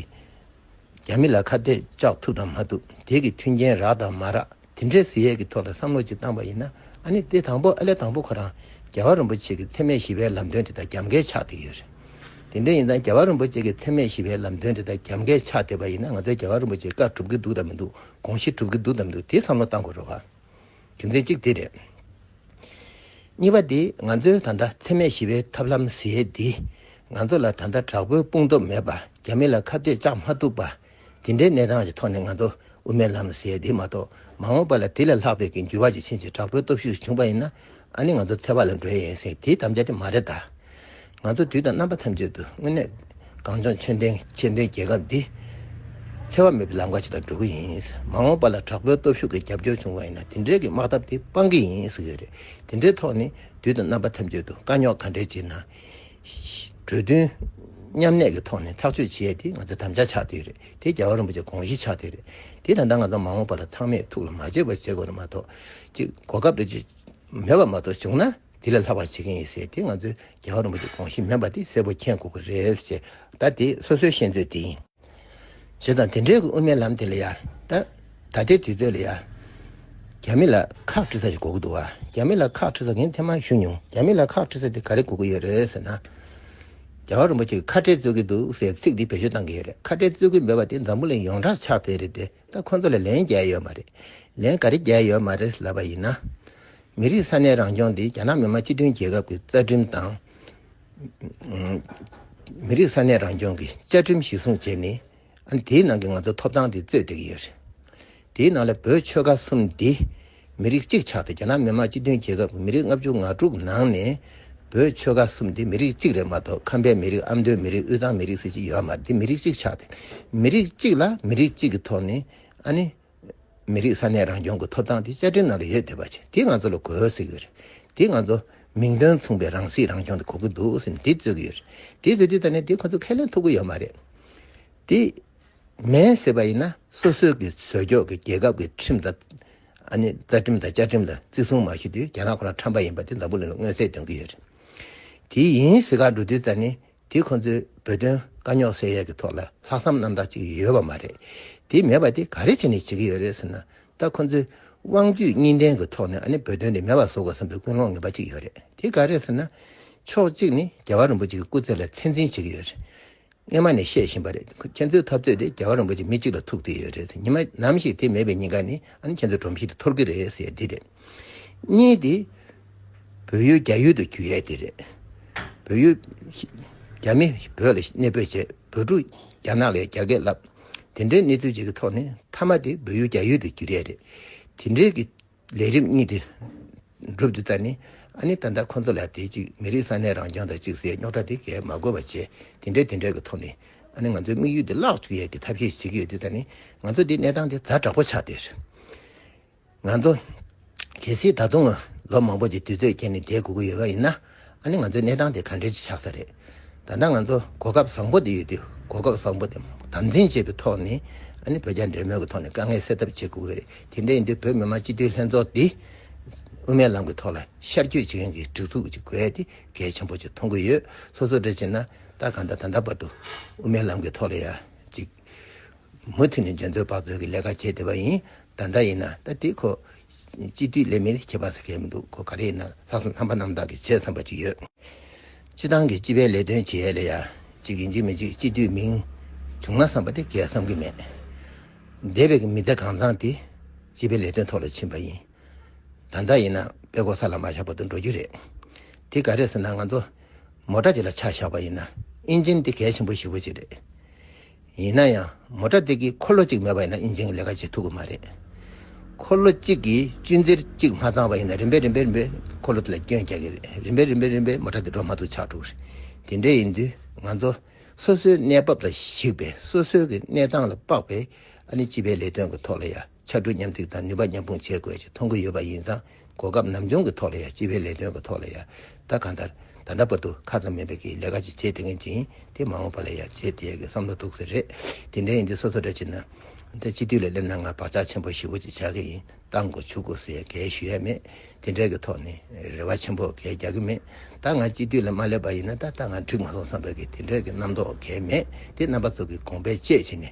རྒྱ་མི་ལ་ཁ་གཏད་གཅག་ཐུབ་དང་མ་ཐུབ་དེ་གི་མཐུན་རྐྱེན་རག་དང་མ་རག་དེ་འདྲའི་ཟི་ཡས་ཀྱི་ཐོག་ལ་བསམ་བློ་ཅིག་བཏང་པ་ཡིན་ན་ཨ་ནི་དེ་དང་པོ་ཨ་ལས་དང་པོ་ཁོ་རང་རྒྱལ་བ་རིན་པོ་ཆེ་གི་འཚེ་མེད་ཞི་བའི་ལམ་སྟོན་དེ་དག་རྒྱབ་འགལ་ཆགས་བསྡད་ཡོད་རེད། དེ་འདྲ་ཡིན་ན་རྒྱལ་བ་རིན་པོ་ཆེ་གི་འཚེ་མེད་ཞི་བའི་ལམ་སྟོན་དེ་དག་རྒྱབ་འགལ་ཆགས་བསྡད་པ་ཡིན་ན་ང་ཚོའི་རྒྱལ་བ་རིན་པོ་ཆེ་བཀའ་གྲུབ་ཀྱི་འདུག་དང་མི་འདུག་དགོངས་གཞི་གྲུབ་ཀྱི་འདུག་དང་མི་འདུག་དེ་བསམ་བློ་བཏང་དགོས་རོགས། རྒྱུ་མཚན་གཅིག་དེ་རེད། གཉིས་པ་དེ་ང་ཚོའི་ད་ལྟ་འཚེ་མེད་ཞི་བའི་ཐབས་ལམ་ཟེར་དེ་ང་ཚོ་ལ་ད་ལྟ་དྲག་པོའི་དཔུང་སྟོབས་མེད་པ་རྒྱ་མི་ལ་ཁ་གཏད་བཅག་མ་ཐུབ་པ་དེ་འདྲའི་གནས་སྟངས་ཀྱི་ཐོག་ནས་ང་ཚོ་དབུ་མའི་ལམ་ཟེར་དེ་མ་གཏོགས་མ་འོངས་པ་ལ་དེ་ལས་ལྷག་པའི་གི་འགྱུར་བ་ཇི་ཕྱིན་ཅི་དྲག་པོའི་སྟོབས་ཤུགས་བྱུང་བ་ཡིན་ན་ཨ་ནི་ང་ཚོ་འཚེ་བ་ལ་འགྲོ་ཡས་ཡིན་ཟེར་དེ་དམ་བཅའ་དེ་མ་རེད་ད། ང་ཚོ་དུས་དང་རྣམ་པ་ཐམས་ཅད་དུ་དངོས་གནས་གངས་ལྗོངས་ཆོས་ལྡན་ཆེས་མཐོའི་རྒྱལ་ཁབ་འདི་འཚེ་བ་མེད་པའི་ལམ་ཁ་ཞིག་དང་འགྲོ་གི་ཡིན། མ་འོངས་པ་ལ་དྲག་པོའི་སྟོབས་ཤུགས་ཀྱི་རྒྱབ་སྐྱོར་བྱུང་བ་ཡིན་ན་དེ་འདྲའི་གི་དམག་འཐབ་དེ་སྤང་གི་ཡིན་ཟེར་གི་རེད། དེ་འདྲའི་ཐོག་ནས་དུས་དང་རྣམ་པ་ཐམས་ཅད་དུ་དཀའ་རྙོག་ག་འདྲའི་ཆེ་ན་གྲོས་མཐུན་མཉམ་གནས་ཀྱི་ཐོག་ནས་ཐག་གཅོད་བྱེད་ཡས་དེ་ང་ཚོའི་དམ་བཅའ་ཆགས་དེ་རེད་དེ་རྒྱལ་བ་རིན་པོ་ཆེ་དགོངས་གཞི་ཆགས་དེ་རེད་དེ་ད་ལྟ་ང་ཚོ་མ་འོངས་པ་ལ་ཚང་མས་ཐུགས་ལ་མ་བརྗེད་པར་བྱེད་དགོས་ན་མ་གཏོགས་གཅིག་གོ་སྐབས་རེ་མེད་པ་མ་གཏོགས་བྱུང་ན་དེ་ལས་ལྷག་པ་བྱེད་མཁན་ཡོད་ཟེར་དེ་ང་ཚོའི་རྒྱལ་བ་རིན་པོ་ཆེ་དགོངས་གཞི་མིན་པ་དེ་གསལ་པོ་མཁྱེན་དགོས་ཀྱི་རེད་ཅེས་ད་དེ་སོ་སོའི་ཤེས་འདོད་དེ་ཡིན། ཞེས་དང་དེ་འབྲེལ་གྱི་དབུ་མའི་ལམ་དེ་ལ་ཡང་ད་ལྟའི་དུས་ཚོད་ལ་ཡང་རྒྱ་མི་ལ་ཁག་དཀྲི་ས་ཞིག་གོ་གི་འདུག་བ་རྒྱ་མི་ལ་ཁག་དཀྲི་ས་མཁན་ཐེངས་མང་ཞུས་མྱོང་རྒྱ་མི་ལ་ཁག་དཀྲི་ས་དེ་ག་རེ་གོ་གི་ཡོད་རེད་ཟེར་ན། རྒྱལ་བ་རིན་པོ་ཆེ་གི་ཁ་བྲལ་རྩོད་ཀྱི་འདུག་ཟེར་བའི་ཚིག་འདི་བེད་སྤྱོད་བཏང་གི་ཡོད་རེད་ཁ་བྲལ་རྩོད་ཀྱི་མེད་པ་དེ་འཛམ་བུ་གླིང་ཡོངས་གྲགས་ཆགས་བསྡད་རེད་དེ། ད་ཁོ་ཚོ་ལ་ལན་རྒྱག་ཡོད་མ་རེད། ལན་ག་རེ་རྒྱག་ཡོད་མ་རེད་ལབ་པ་ཡིན་ན། མི་རིགས་ས་གནས་རང་སྐྱོང་དེ་རྒྱ་ནག་མི་དམངས་སྤྱི་མཐུན་རྒྱལ་ཁབ་ཀྱི་རྩ་ཁྲིམས་དང། མི་རིགས་ས་གནས་རང་སྐྱོང་གི་བཅའ་ཁྲིམས་གཞི་བཟུང་བྱས་ནས། དེའི་ནང་གི་ང་ཚོ་ཐོབ་ཐང་དེ་རྩོད་བསྡད་ཀྱི་ཡོད་རེད། དེའི་ནང་ལ་བོད་ཆོལ་ཁ་གསུམ་འདི། མི་རིགས་གཅིག་ཆགས་དེ་རྒྱ་ནག་མི་དམངས་སྤྱི་མཐུན་རྒྱལ་ཁབ་ཀྱི་མི་རིགས་ལྔ་བཅུ་ང་དྲུག་ནང་ནས་བོད་ཆོལ་ཁ་གསུམ་དེ་མི་རིགས་གཅིག་རེད་མ་གཏོགས་ཁམས་པའི་མི་རིགས་ཨ་མདོའི་མི་རིགས་དབུས་གཙང་མི་རིགས་ཟེར་གྱི་ཡོད་མ་དེ་མི་རིགས་གཅིག་ཆགས་དེ་མི་རིགས་གཅིག་ལ་མི་རིགས་གཅིག་གི་ཐོག་ནས་ཨ་ནི་མི་རིགས་ས་གནས་རང་སྐྱོང་གི་ཐོབ་ཐང་དེ་བཅའ་ཁྲིམས་ནང་ལ་ཡོད་བསྡད་པ་ཆེ་དེ་ང་ཚོ་ལ་གོ་ཟེར་གྱི་རེད་དེ་ང་ཚོ་མིང་དོན་མཚུངས་པའི་རང་སྲིད་རང་སྐྱོང་དེ་གོ་གི་འདུག་སེམས་དེ་རྩོད་གི་ཡོད་རེད་དེ་རྩོད་དུས་ད་ནས་དེ་ཁོ་ཚོ་ཁས་ལེན་ཐུབ་གི་ཡོད་མ་རེད་དེ། མེད་ཟེར་བ་ཡིན་ན་སོ་སོའི་གི་ཟོལ་རྒྱོག་གི་རྒྱལ་ཁབ་གི་ཁྲིམས་དང། ཨ་ནི་རྩ་ཁྲིམས་དང་བཅའ་ཁྲིམས་ལ་བརྩི་སྲུང་མ་ཞུས་དུས་རྒྱ་ནག་ཁོ་རང་ཁྲམ་པ་ཡིན་པ་དེ་འཛམ་བུ་གླིང་ལ་མངོན་གསལ་སྟོན་གི་ཡོད་རེད། དེ་ཡིན་ཟེར་ཁར་འགྲོ་དུས་རྩ་ནི་དེ་ཁོང་ཚོའི་བོད་དོན་དཀའ་རྙོག་སེལ་ཡས་གི་ཐོག་ལ་ལྷག་བསམ་རྣམ་དག་ཅིག་ཡོད་པ་མ་རེད། དེ་མེད་པ་དེ་ག་རེ་བྱས་ནས་བྱེད་གི་ཡོད་རེད་ཟེར་ན་ད་ཁོང་ཚོའི་དབང་བརྒྱུད་གཉིས་ལྡན་གི་ཐོག་ནས་ཨ་ནི་བོད་དོན་དེ་མེད་པ་བཟོ་དགོས་བསམ་པའི་ཀུན་སློང་ངན་པ་ཅིག་ཡོད་རེད་དེ་ག་རེད་ཟེར་ན། ཕྱོགས་གཅིག་ནི་རྒྱལ་བ་རིན་པོ་ཆེ་གི་སྐུ་ཚེ་ལ་ཚད་འཛིན་བྱེད་གི་ཡོད་རེད། སྔོན་མ་ནས་བཤད་བཞིན་པ་རེད་ཁྱེད་ཚོའི་འཐབ་རྩོད་དེ་རྒྱ་གར་རིན་པོ་ཆེ་མི་གཅིག་ལ་ཐུག་བསྡད་ཡོད་རེད་ཉི་མ་ནམ་ཞིག་དེ་མེད་པའི་ཉིན་ག་ནས་ཨ་ནི་ཁྱེད་ཚོའི་སྒྲོམ་གཞི་དེ་འཐོར་གི་རེད་ཟེར་ཡ་འདི་རེད། གཉིས་དེ་བོད་ཡུལ་རྒྱ་ཡུལ་དུ་གྱུར་ཡ་འདི་རེད། བོད་ཡུལ། རྒྱ་མི་བོད་ལ་གནས་སྤོས་བྱས་བོད་ཕྲུག་རྒྱ་ནག་ལས་རྒྱ་སྐད་བསླབས། དེ་འདྲའི་གནས་ཚུལ་ཅིག་གི་ཐོག་ནས་མཐའ་མ་དེ་བོད་ཡུལ་རྒྱ་ཡུལ་དུ་གྱུར་ཡ་རེད་དེ་འདྲའི་གི། ལས་རིམ་གཉིས་དེ་འགྲུབ་འདི་ལྟར་ནི། ཨ་ནི་ད་ལྟ་ཁོ་ཚོ་ལ་དེ་གཅིག་མི་རིགས་ས་གནས་རང་སྐྱོང་དང་གཅིག་སའི་རྙོག་དྲ་དེ་གས་མ་དགོས་པ་བྱས་དེ་འདྲའི་དེ་འདྲའི་གི་ཐོག་ནས་ཨ་ནི་ང་ཚོའི་དམིགས་ཡུལ་དེ་བརླག་བཅུག་ཡས་གི་ཐབས་ཤེས་ཤིག་བྱེད་གི་ཡོད་འདི་ལྟར་ནི་ང་ཚོ་འདི་གནས་སྟངས་དེ་ད་དྲག་པོ་ཆགས་དེ་རེད། ང་ཚོ་གལ་སྲིད་ད་དུང་ལོ་མང་པོ་གི་དུས་ཚོད་བསྐྱལ་ནས་བསྡད་དགོས་གི་ཡོད་པ་ཡིན་ན། ཨ་ནི་ང་ཚོའི་གནས་སྟངས་དེ་ག་འདྲའི་ཆགས་ས་རེད། ད་ལྟ་ང་ཚོ་གོ་སྐབས་བཟང་པོ་དེ་ཡོད་དུས་གོ་སྐབས་བཟང་པོ་དེ་དམ་འཛིན་བྱེད་པའི་ཐོག་ནས་ཨ་ནི་བོད་རྒྱ་འབྲེལ་མོལ་གྱི་ཐོག་ནས་དཀའ་ངལ་སེལ་ཐབས་བྱེད་དགོས་ཀྱི་རེད་དེ་འདྲ་ཡིན་དུས་བོད་མི་མང་སྤྱི་འཐུས་ལྷན་ཚོགས་འདི་དབུ་མའི་ལམ་གྱི་ཐོག་ལ་ཤར་སྐྱོད་བྱེད་མཁན་གྱི་སྒྲིག་འཛུགས་ཅིག་དགོས་ཏེ་གལ་ཆེན་པོ་ཅིག་མཐོང་གི་ཡོད་སོ་སོ་འདྲ་བྱས་ན་ད་ག་འདྲ་ད་འདྲ་བར་དུ་དབུ་མའི་ལམ་གྱི་ཐོག་ལ་ཡ་གཅིག། མུ་མཐུད་ནས་འཇོན་ཚོད་དཔག་ཚོད་ཀྱི་ལས་ཀ་བྱས་བསྡད་པ་ཡིན། ད་ལྟ་ཡིན་ན་ད་ལྟའི་ཁོ་སྤྱི་མཐུས་ལས་མིར་ཁྱད་པར་ཟ་མཁན་མི་འདུག་ཁོ་ག་རེ་ཡིན་ན་ལྷག་བསམ་ལྷག་པ་རྣམ་དག་གིས་བྱས་བསམ་པ་ཅིག་ཡོད། སྤྱི་བཏང་གིས་སྤྱི་པའི་ལས་དོན་བྱེད་ཡ་ལ་ཡ་གཅིག་གིས་འཇིགས་མི་འཇིགས་སྤྱི་མཐུས་མིང་བྱུང་ན་བསམ་པ་དེ་གས་བསམ་གྱི་མེད། འདས་པའི་མི་ཚེ་གང་བཟང་དེ་སྤྱི་པའི་ལས་དོན་ཐོག་ལ་ཕྱིན་པ་ཡིན། ད་ལྟ་ཡིན་ན་དཔེ་དགོ་ས་ལ་མ་བཞག་པ་དུ་འགྲོ་རྒྱུ་རེད། དེ་ག་རེད་ཟེར་ན་ང་ཚོ་མོ་ཏྲ་ཅིག་ལ་ཆ་བཞག་པ་ཡིན་ན་ཨིན་ཇིན་འདི་གལ་ཆེན་པོ་ཞེ་བོ་ཅིག་རེད། ཡིན་ན་ཡང་མོ་ཏྲ་དེ་གི་འཁོར་ལོ་གཅིག་མེད་པ་ཡིན་ན་ཨིན་ཇིན་གི་ལས་ཀ་བྱེད་ཐུབ་གི་མ་རེད། འཁོར་ལོ་གཅིག་གི་གཅུན་གཟེར་གཅིག་མ་ཚང་བ་ཡིན་ན་རིམ་པས་རིམ་པས་རིམ་པས་འཁོར་ལོ་དེ་ལ་སྐྱོན་རྒྱག་གི་རེད། རིམ་པས་རིམ་པས་རིམ་པས་མོ་ཏྲ་དེ་འགྲོ་མ་ཐུབ་ཆགས་འགྲོ་གི་རེད། དེ་འདྲ་ཡིན་དུས་ང་ཚོ་སོ་སོའི་གནས་བབ་ལ་གཞིགས་པས་སོ་སོའི་གི་གནས་སྟངས་ལ་དཔག་པས་ཨ་ནི་སྤྱི་པའི་ལས་དོན་གི་ཐོག་ལ་ཡ། ཕྱར་གྲུ་མཉམ་གཏུག་དང་ནུས་པ་མཉམ་སྤུངས་བྱེད་དགོས་ཅེས་མཐོང་གི་ཡོད་པ་ཡིན་ཙང་གོ་སྐབས་ནམ་བྱུང་གི་ཐོག་ལ་ཡང་སྤྱི་པའི་ལས་དོན་གི་ཐོག་ལ་ཡང་ད་ག་ལྟར་ད་ལྟ་བར་དུ་ཁ་ཙམ་མིན་པའི་གིས་ལས་ཀ་ཅིག་བྱེད་བསྡད་མཁན་ཅིང་དེ་མ་འོངས་པ་ལ་ཡང་བྱེད་བསྡད་དགོས་བསམ་བློ་འདུག་ཟེར་རེད་དེ་འདྲ་ཡིན་དུས་སོ་སོ་འདྲ་བྱེད་ན་འདྲ་སྤྱི་འཐུས་ལ་སླེབས་ན་ང་བག་ཆགས་ཆེན་པོ་ཞི་བོ་ཅིག་ཆགས་ཀྱི་ཡིན་བཏང་གོ་བྱུག་གོ་ཟེར་གལ་ཞུ་ཡས་མེད་དེ་འདྲའི་གི་ཐོག་ནས་རེ་བ་ཆེན་པོ་གལ་རྒྱག་གི་མེད་ད་ང་སྤྱི་འཐུས་ལ་མ་སླེབས་པ་ཡིན་ན་ད་ད་ང་འགྲིག་མ་སོང་བསམ་པའི་གིས་དེ་འདྲའི་གི་རྣམ་རྟོག་གལ་མེད་དེ་རྣམ་པ་ཚོ་གི་དགོངས་པའི་དཔྱད་བྱེད་ནས་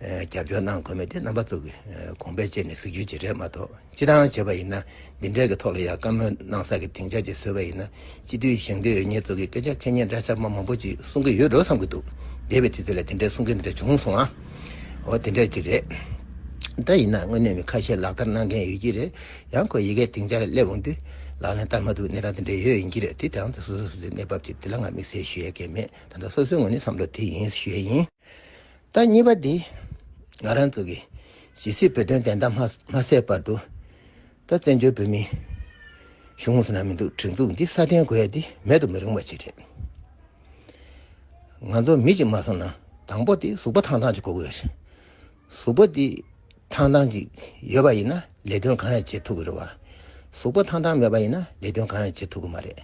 རྒྱབ་སྐྱོར་གནང་དགོས་མེད་དེ་རྣམ་པ་གཙོ་གི་དགོངས་པའི་བཅས་ནས་གཟིགས་རྒྱུ་ཇི་འདྲའི་མ་གཏོགས་ཅི་ལྟའང་བྱས་པ་ཡིན་ན་འདི་འདྲའི་གི་ཐོག་ལ་ཡང་བཀའ་མོལ་གནང་ས་གི་དེང་ཆ་གཅིག་བཟོས་པ་ཡིན་ན་སྤྱི་འཐུས་ཞིང་སྡེ་འོས་མྱེས་གཙོ་གི་སྐད་ཆ་ཁས་ཉན་འདྲ་ཆ་མ་མང་པོ་ཅིག་གསུང་གི་ཡོད་འགྲོ་བསམ་གི་འདུག་འདས་པའི་དུས་ཚོད་ལ་དེ་འདྲའི་གསུང་སྐད་འདི་འདྲ་བྱུང་སོང་ཨ། འོ་དེ་འདྲ་ཅིག་རེད། འདྲ་ཡིན་ན་དངོས་གནས་མི་ཁ་ཤས་ལག་བསྟར་གནང་མཁན་ཡོད་ཀྱི་རེད་ཡང་ཁོས་ཡི་གེ་དེང་ཆ་སླེབས་འོང་དུས་ལག་ལེན་བསྟར་མ་འདུག་གནས་སྟངས་དེ་འདྲ་ཡོད་ཡིན་གྱི་རེད་དེ་དེའང་དེ་སོ་སོའི་སོ་སོའི་གནས་བབ་ཅིག་དེ་ལ་ང་དམིགས་བསལ་ཞུ་ཡས་མཁན་མེད་ད་ལྟ་སོ་སོའི་ངོས་ནས་བསམ་བློ་དེ་ཡིན་ཞུ་ཡས་ཡིན། ལྟ་གཉིས་པ་འདི་ང་རང་ཚོ་གི་ཇི་སྲིད་བོད་དོན་བདེན་མཐའ་མ་སད་པར་དུ་ད་བཙན་བྱོལ་བོད་མིའི་གཞུང་ངོས་ན་མི་འདུག་སྒྲིག་འཛུགས་འདི་སྲ་བརྟན་དགོས་ཡ་འདི་མེད་དུ་མི་རུང་བ་ཞིག་རེད། ང་ཚོ་མི་གཅིག་མ་སོང་ན་དང་པོ་དེ་གཟུགས་པོ་ཐང་ཐང་ཅིག་དགོས་ཀྱི་ཡོད་རེད། གཟུགས་པོ་དེ་ཐང་ཐང་ཅིག་ཡོད་པ་ཡིན་ན་ལས་དོན་གང་ཡང་བྱེད་ཐུབ་ཀྱི་རེད་བ། གཟུགས་པོ་ཐང་ཐང་མེད་པ་ཡིན་ན་ལས་དོན་གང་ཡང་བྱེད་ཐུབ་ཀྱི་མ་རེད།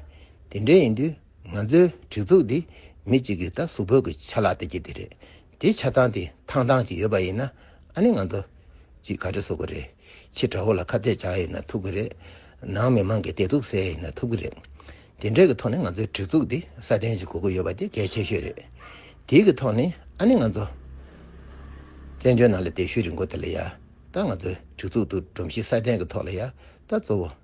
དེ་འདྲའི་ཡིན་དུས། ང་ཚོའི་སྒྲིག་འཛུགས་འདི་མི་གཅིག་གིས་ད་གཟུགས་བོད་ཀྱི་ཆ་ལག་སྟེར་གྱི་དེ་རེད་དེ་ཆ་ཚང་དེ་ཐང་ཐང་ཅིག་ཡོད་པ་ཡིན་ན་ཨ་ནི་ང་ཚོ་གཅིག་ག་རེ་བཟོ་གི་རེད་ཕྱི་དགྲ་བོ་ལ་ཁ་གཏད་བཅག་ཡོད་ན་ཐུབ་གི་རེད་ནང་མི་མང་གི་བདེ་སྡུག་བསལ་ཡོད་ན་ཐུབ་གི་རེད་དེ་འདྲས་ཀྱི་ཐོག་ནས་ང་ཚོའི་སྒྲིག་འཛུགས་འདི་སྲ་བརྟན་ཅིག་དགོས་ཀྱི་ཡོད་པ་དེ་གལ་ཆེ་ཤོས་རེད་དེའི་གི་ཐོག་ནས་ཨ་ནི་ང་ཚོ་བཙན་བྱོལ་ནང་ལ་བསྡད་ཤུལ་རིང་པོ་དེ་ལ་ཡང་ད་ང་ཚོའི་སྒྲིག་འཛུགས་འདུག་སྒྲོམ་གཞི་སྲ་བརྟན་གྱི་ཐོག་ལ་ཡང་ད་གཙོ་བོ།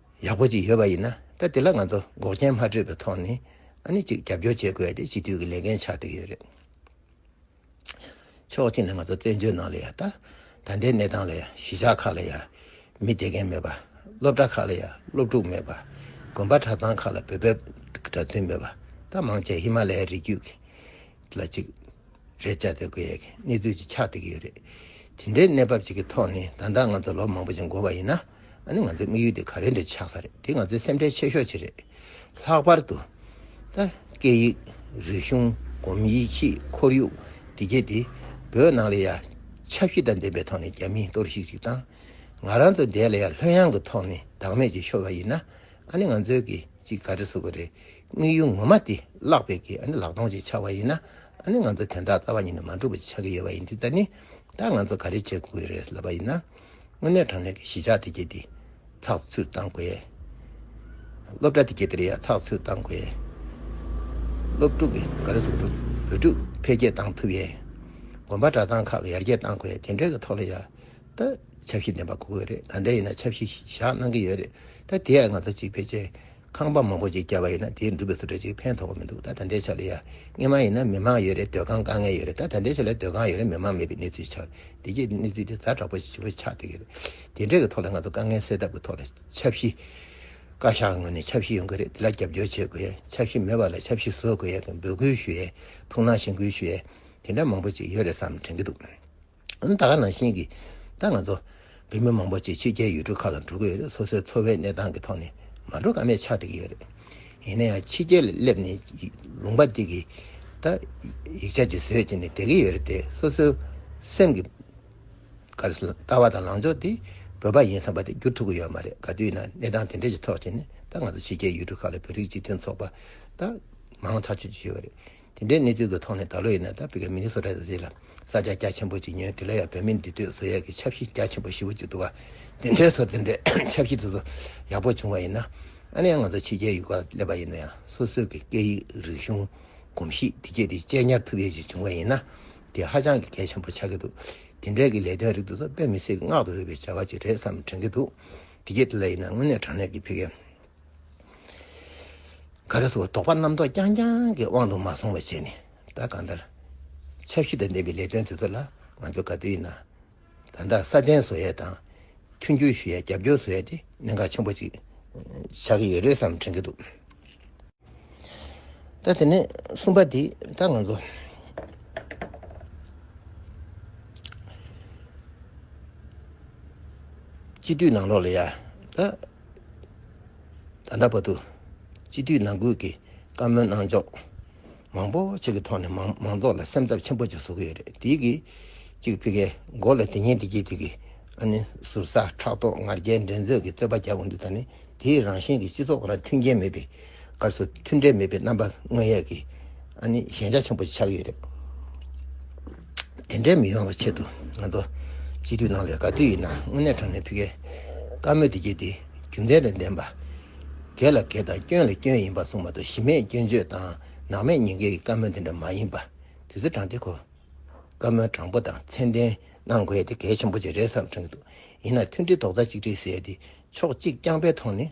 ཡག་པོ་ཅིག་ཡོད་པ་ཡིན་ན་ད་དེ་ལ་ང་ཚོ་འགོག་རྐྱེན་མ་སྤྲོད་པའི་ཐོག་ནས་ཨ་ནི་ཅིག་རྒྱབ་སྐྱོར་བྱེད་དགོས་དེ་སྤྱི་འཐུས་ཀྱི་ལས་འགན་ཆགས་བསྡད་ཡོད་རེད། ཕྱོགས་གཅིག་ནས་ང་ཚོ་བཙན་བྱོལ་ནང་ལ་ཡང་ད་ད་ལྟའི་གནས་སྟངས་ལ་ཡང་གཞིས་ཆགས་ཁག་ལ་ཡང་མི་བསྡད་མཁན་མེད་པ། སློབ་གྲྭ་ཁག་ལ་ཡང་སློབ་ཕྲུག་མེད་པ། དགོན་པ་གྲྭ་ཚང་ཁག་ལ་བོད་པའི་གྲྭ་བཙུན་མེད་པ་ད་མང་ཆེ་བ་ཧི་མ་ལ་ཡའི་རི་རྒྱུད་ཀྱི་ལ་གཅིག་རེད་ཅག་དེ་དགོས་ཡ་གི་གནས་ཚུལ་གཅིག་ཆགས་བསྡད་ཀྱི་ཡོད་རེད། དེ་འདྲའི་གནས་བབ་ཅིག་གི་ཐོག་ནས་ད་ལྟ་ང་ཚོ་ལོ་མང་པོ་ཞིག་འགོར་བ་ཡིན་ན་ཨ་ནི་ང་ཚོའི་དམིགས་ཡུལ་དེ་ག་རེ་འདྲ་ཆགས་ས་རེད་དེ་ང་ཚོའི་སེམས་ཁྲལ་ཆེ་ཤོས་ཅིག་རེད། ལྷག་པར་དུ་ད་སྐད་ཡིག་རིག་གཞུང་སྒོམ་ཡིད་ཆེས་ཁོར་ཡུག་བདེ་སྐྱིད་དེ་བོད་ནང་ལ་ཡ་ཆབ་གཞི་དང་ལྡན་པའི་ཐོག་ནས་རྒྱ་མིས་གཏོར་བཤིག་ཅིག་དང་ང་རང་ཚོ་འདས་ལ་ཡ་ལྷོད་ཡངས་ཀྱི་ཐོག་ནས་བདག་མེད་ཅིག་ཤོར་བ་ཡིན་ན་ཨ་ནི་ང་ཚོའི་གི་ཅིག་ག་རེ་བཟོ་གི་རེད། དངོས་ཡོད་ངོ་མ་དེ་བཀླགས་པས་ཀྱི་ལག་སྟོང་ཅིག་ཆགས་པ་ཡིན་ན། ང་ཚོ་དོན་དག་རྩ་བ་ཉིད་ནས་མ་འགྲུབ་པ་ཅིག་ཆགས་ཀྱི་ཡོད་པ་ཡིན་དུས་ད་ནི་ད་ང་ཚོ་ག་རེ་བྱེད་དགོས་རེད་ལབ་པ་ཡིན་ན། དངོས་གནས་དྲང་གནས་ཀྱི་གཞིས་ཆགས་དེ་གྱེས་ཏེ་ཚགས་ཚུད་བཏང་དགོས། སློབ་གྲྭ་དེ་གྱེས་ཏེ་ཚགས་ཚུད་བཏང་དགོས། སློབ་ཕྲུག་གི་འགའ་རེ་ཟུང་དུ་བོད་ཕྲུག་འཕེལ་རྒྱས་བཏང་ཐུབ་ཡས། དགོན་པ་གྲྭ་ཚང་ཁག་ཡར་རྒྱས་བཏང་དགོས་དེ་འདྲའི་གི་ཐོག་ལ་ཡ་ད་ཆབ་གཞི་འདེམས་པ་གོ་དགོས་རེད་ག་འདྲ་ཡིན་ན་ཆབ་གཞི་བཞག་གནང་གི་ཡོད་རེད་ད་དེ་ཡ་ང་ཚོ་གཅིག་འཕེལ་རྒྱས་ཁང་པ་མང་པོ་ཅིག་བསྐྱལ་བ་ཡིན་ན་དེའི་འགྲུལ་པའི་ཚོ་གྲལ་ཅིག་ཕན་ཐོགས་པ་མི་འདུག་ད་ད་འདྲའི་ཆ་ལ་ཡ་ངས་མ་ཡིན་ན་མི་མང་ཡོད་རེད་སྡོད་ཁང་དཀའ་ངལ་ཡོད་རེད་ད་ད་འདྲའི་ཆ་ལ་སྡོད་ཁང་ཡོད་རེད་མི་མང་མེད་པའི་གནས་ཚུལ་ཆགས་རེད་བདེ་སྐྱིད་གནས་ཚུལ་དེ་ད་དྲག་པོ་ཆེ་པོ་ཆགས་བསྡད་རེད་དེ་འདྲའི་གི་ཐོག་ལ་ང་ཚོ་དཀའ་ངལ་སེལ་ཐབས་ཀྱི་ཐོག་ལ་ཆབ་གཞི། བཀའ་ཤག་ངོས་ནས་ཆབ་གཞི་ཡོང་གི་རེད་དེ་ལ་རྒྱབ་སྐྱོར་བྱེད་དགོས་ཡས་ཆབ་གཞི་མེད་པ་ལ་ཆབ་གཞི་བཟོ་དགོས་ཡས་འབོད་སྐུལ་ཞུ་ཡས་ཐུགས་སྣང་ཞེན་སྐུལ་ཞུ་ཡས་དེ་འདྲ་མང་པོ་ཅིག་ཡོད་རེད་བསམ་དྲན་གི་འདུག། ད་ག་ནང་བཞིན་གྱི་ད་ང་ཚོ་བོད་མི་མང་པོ་ཆེ་ཕྱི་རྒྱལ་ཡུལ་གྲུ་ཁག་ལ་འགྲོ་གི་ཡོད་རེད་སོ་སོའི་འཚོ་བའི་གནས་སྟངས་ཀྱི་ཐོག་ནས་མ་འགྲོ་ཀ་མེད་ཆགས་བསྡད་ཀྱི་ཡོད་རེད་ཡིན་ན་ཡང་ཕྱི་རྒྱལ་ལ་སླེབས་ནས་ལུང་པ་འདི་གི་ད་ཡིག་ཆ་ཅིག་བཟོས་བྱས་ནས་བསྡད་ཀྱི་ཡོད་རེད་དེ་སོ་སོའི་སེམས་ཀྱི་ལྟ་བ་དང་ལང་ཕྱོགས་དེ་བོད་པ་ཡིན་བསམ་པ་དེ་བསྒྱུར་ཐུབ་ཀྱི་ཡོད་མ་རེད་ག་དུས་ན་གནས་སྟངས་དེ་འདྲའི་ཀྱི་ཐོག་བྱས་ནས་ད་ང་ཚོ་ཕྱི་རྒྱལ་ཡུལ་གྲུ་ཁག་ལ་བོད་རིགས་སྤྱི་མཐུན་ཚོགས་པ་ད་མང་ཐག་ཆོད་ཀྱི་ཡོད་རེད། དེ་འདྲའི་གནས་ཚུལ་གྱི་ཐོག་ནས་ད་ལོ་ཡིན་ན་ད་ཕེབས་མཁན་མི་ནི་སོ་རེད་རེད་ལ་ས་ཆ་རྒྱ་ཆེན་པོ་ཅིག་ཉོས་དེ་ལ་ཡང་བོད་མི་འདི་སྡོད་བཟོ་ཡས་ཀྱི་ཆབ་གཞི་རྒྱ་ཆེན་པོ་ཞེ་བོ་ཅིག་འདུག་ག་དེ་འདྲའི་ཚོ་དེ་འདྲའི་ཆབ་གཞི་དེ་ཚོ་ཡག་པོ་བྱུང་བ་ཡིན་ན་ཨ་ནི་ཡང་ང་ཚོ་ཕྱི་རྒྱལ་ཡུལ་ག་ལ་སླེབས་པ་ཡིན་ན་ཡང་སོ་སོའི་གི་སྐད་ཡིག་རིག་གཞུང་གོམས་གཤིས་དེ་བཅས་དེ་གཅེས་ཉར་ཐུབ་ཡས་ཅིག་བྱུང་བ་ཡིན་ན་དེ་ཧ་ཅང་གི་གལ་ཆེན་པོ་ཆགས་ཀྱི་འདུག་དེ་འདྲའི་གི་ལས་དོན་རིགས་དེ་ཚོ་དཔེ་མི་སྲིད་ཀྱི་བསྔགས་ཏུ་འོས་པའི་བྱ་བ་ཅིག་རེད་བསམ་དྲན་གྱི་འདུག་དེ་རྗེས་དེ་ལ་ཡིན་ན་དངོས་གནས་དྲང་གནས་ཀྱི་ཕེབས་མཁན། ག་རེ་སོགས་དོགས་པ་རྣམ་རྟོག་རྐྱང་རྐྱང་གི་དབང་དུ་མ་སོང་བ་བྱས་ནས་ད་གང་ལྟར་ཆབ་གཞི་དང་ལྡན་པའི་ལས་དོན་དེ་ཚོ་ལ་ང་ཚོས་ག་དུས་ཡིན་ན་ད་ལྟ་སྲ་བརྟན་བཟོ་ཡས་དང་མཐུན་འགྱུར་ཞུ་ཡས་རྒྱབ་སྐྱོར་བཟོ་ཡས་དེ་གནད་འགག་ཆེན་པོ་ཅིག་ཆགས་ཀྱི་ཡོད་རེད་བསམ་དྲན་གྱི་འདུག་ད་དེ་ནས་གསུམ་པ་དེ་ད་ང་ཚོ་སྤྱི་འཐུས་ནང་ལོགས་ལ་ཡ་ད། ད་ལྟ་བར་དུ་སྤྱི་འཐུས་ནང་ཁུལ་གྱི་བཀའ་མོལ་གནང་ཕྱོགས་མང་པོ་ཞིག་གི་ཐོག་ནས་མང་ཚོགས་ལ་སེམས་འཚབ་ཆེན་པོ་ཅིག་བཟོ་གི་ཡོད་རེད་དེའི་གི་གཅིག་ཕི་གའི་མགོ་ལ་དེ་ཉིན་དེ་རྗེས་དེ་གི་ཨ་ནི་ཟུར་ཟ་ཕྲག་དོག་ངར་རྒྱལ་འགྲན་རྩོད་ཀྱི་རྩོད་པ་རྒྱག་གི་འདུག་ད་ནི་དེའི་རང་བཞིན་གྱི་སྤྱི་ཚོགས་ལ་མཐུན་རྐྱེན་མེད་པའི་སྐབས་སུ་མཐུན་འབྲེལ་མེད་པའི་རྣམ་པ་དངོས་ཡོད་ཀྱི་ཞན་ཆ་ཆེན་པོ་ཞིག་ཆགས་ཡོད་རེད། དེ་འདྲའི་མི་ཡོང་བའི་ཆེད་དུ་ང་ཚོ་སྤྱི་འཐུས་རྣམས་ལས་ག་དུས་ཡིན་ན་དངོས་གནས་དྲང་གནས་ཕི་ཀའི་བཀའ་མོལ་དེ་བརྒྱུད་དེ་རྒྱུ་མཚན་དང་ལྡན་པ། གལ་ལ་གལ་དང་སྐྱོན་ལ་སྐྱོན་ཡིན་པ་གསུངས་མ་གཏོགས་གཞི་མེད་སྐྱོན་བརྗོད་དང་ནག་མེད་ཉེས་འགེལ་གྱི་བཀའ་མོལ་དེ་འདྲ་མ་ཡིན་པ་དུས་ཚོད་དྲང་དེ་གོ། བཀའ་མོལ་དྲང་པོ་དང་མཚན་ལྡན་གནང་དགོས་དེ་གལ་ཆེན་པོ་ཅིག་རེད་བསམ་དྲན་གྱི་འདུག་ཡིན་ན་མཐུན་སྒྲིལ་རྡོག་རྩ་གཅིག་སྒྲིལ་ཟེར་ཏེ་ཕྱོགས་གཅིག་རྐྱང་པའི་ཐོག་ནས།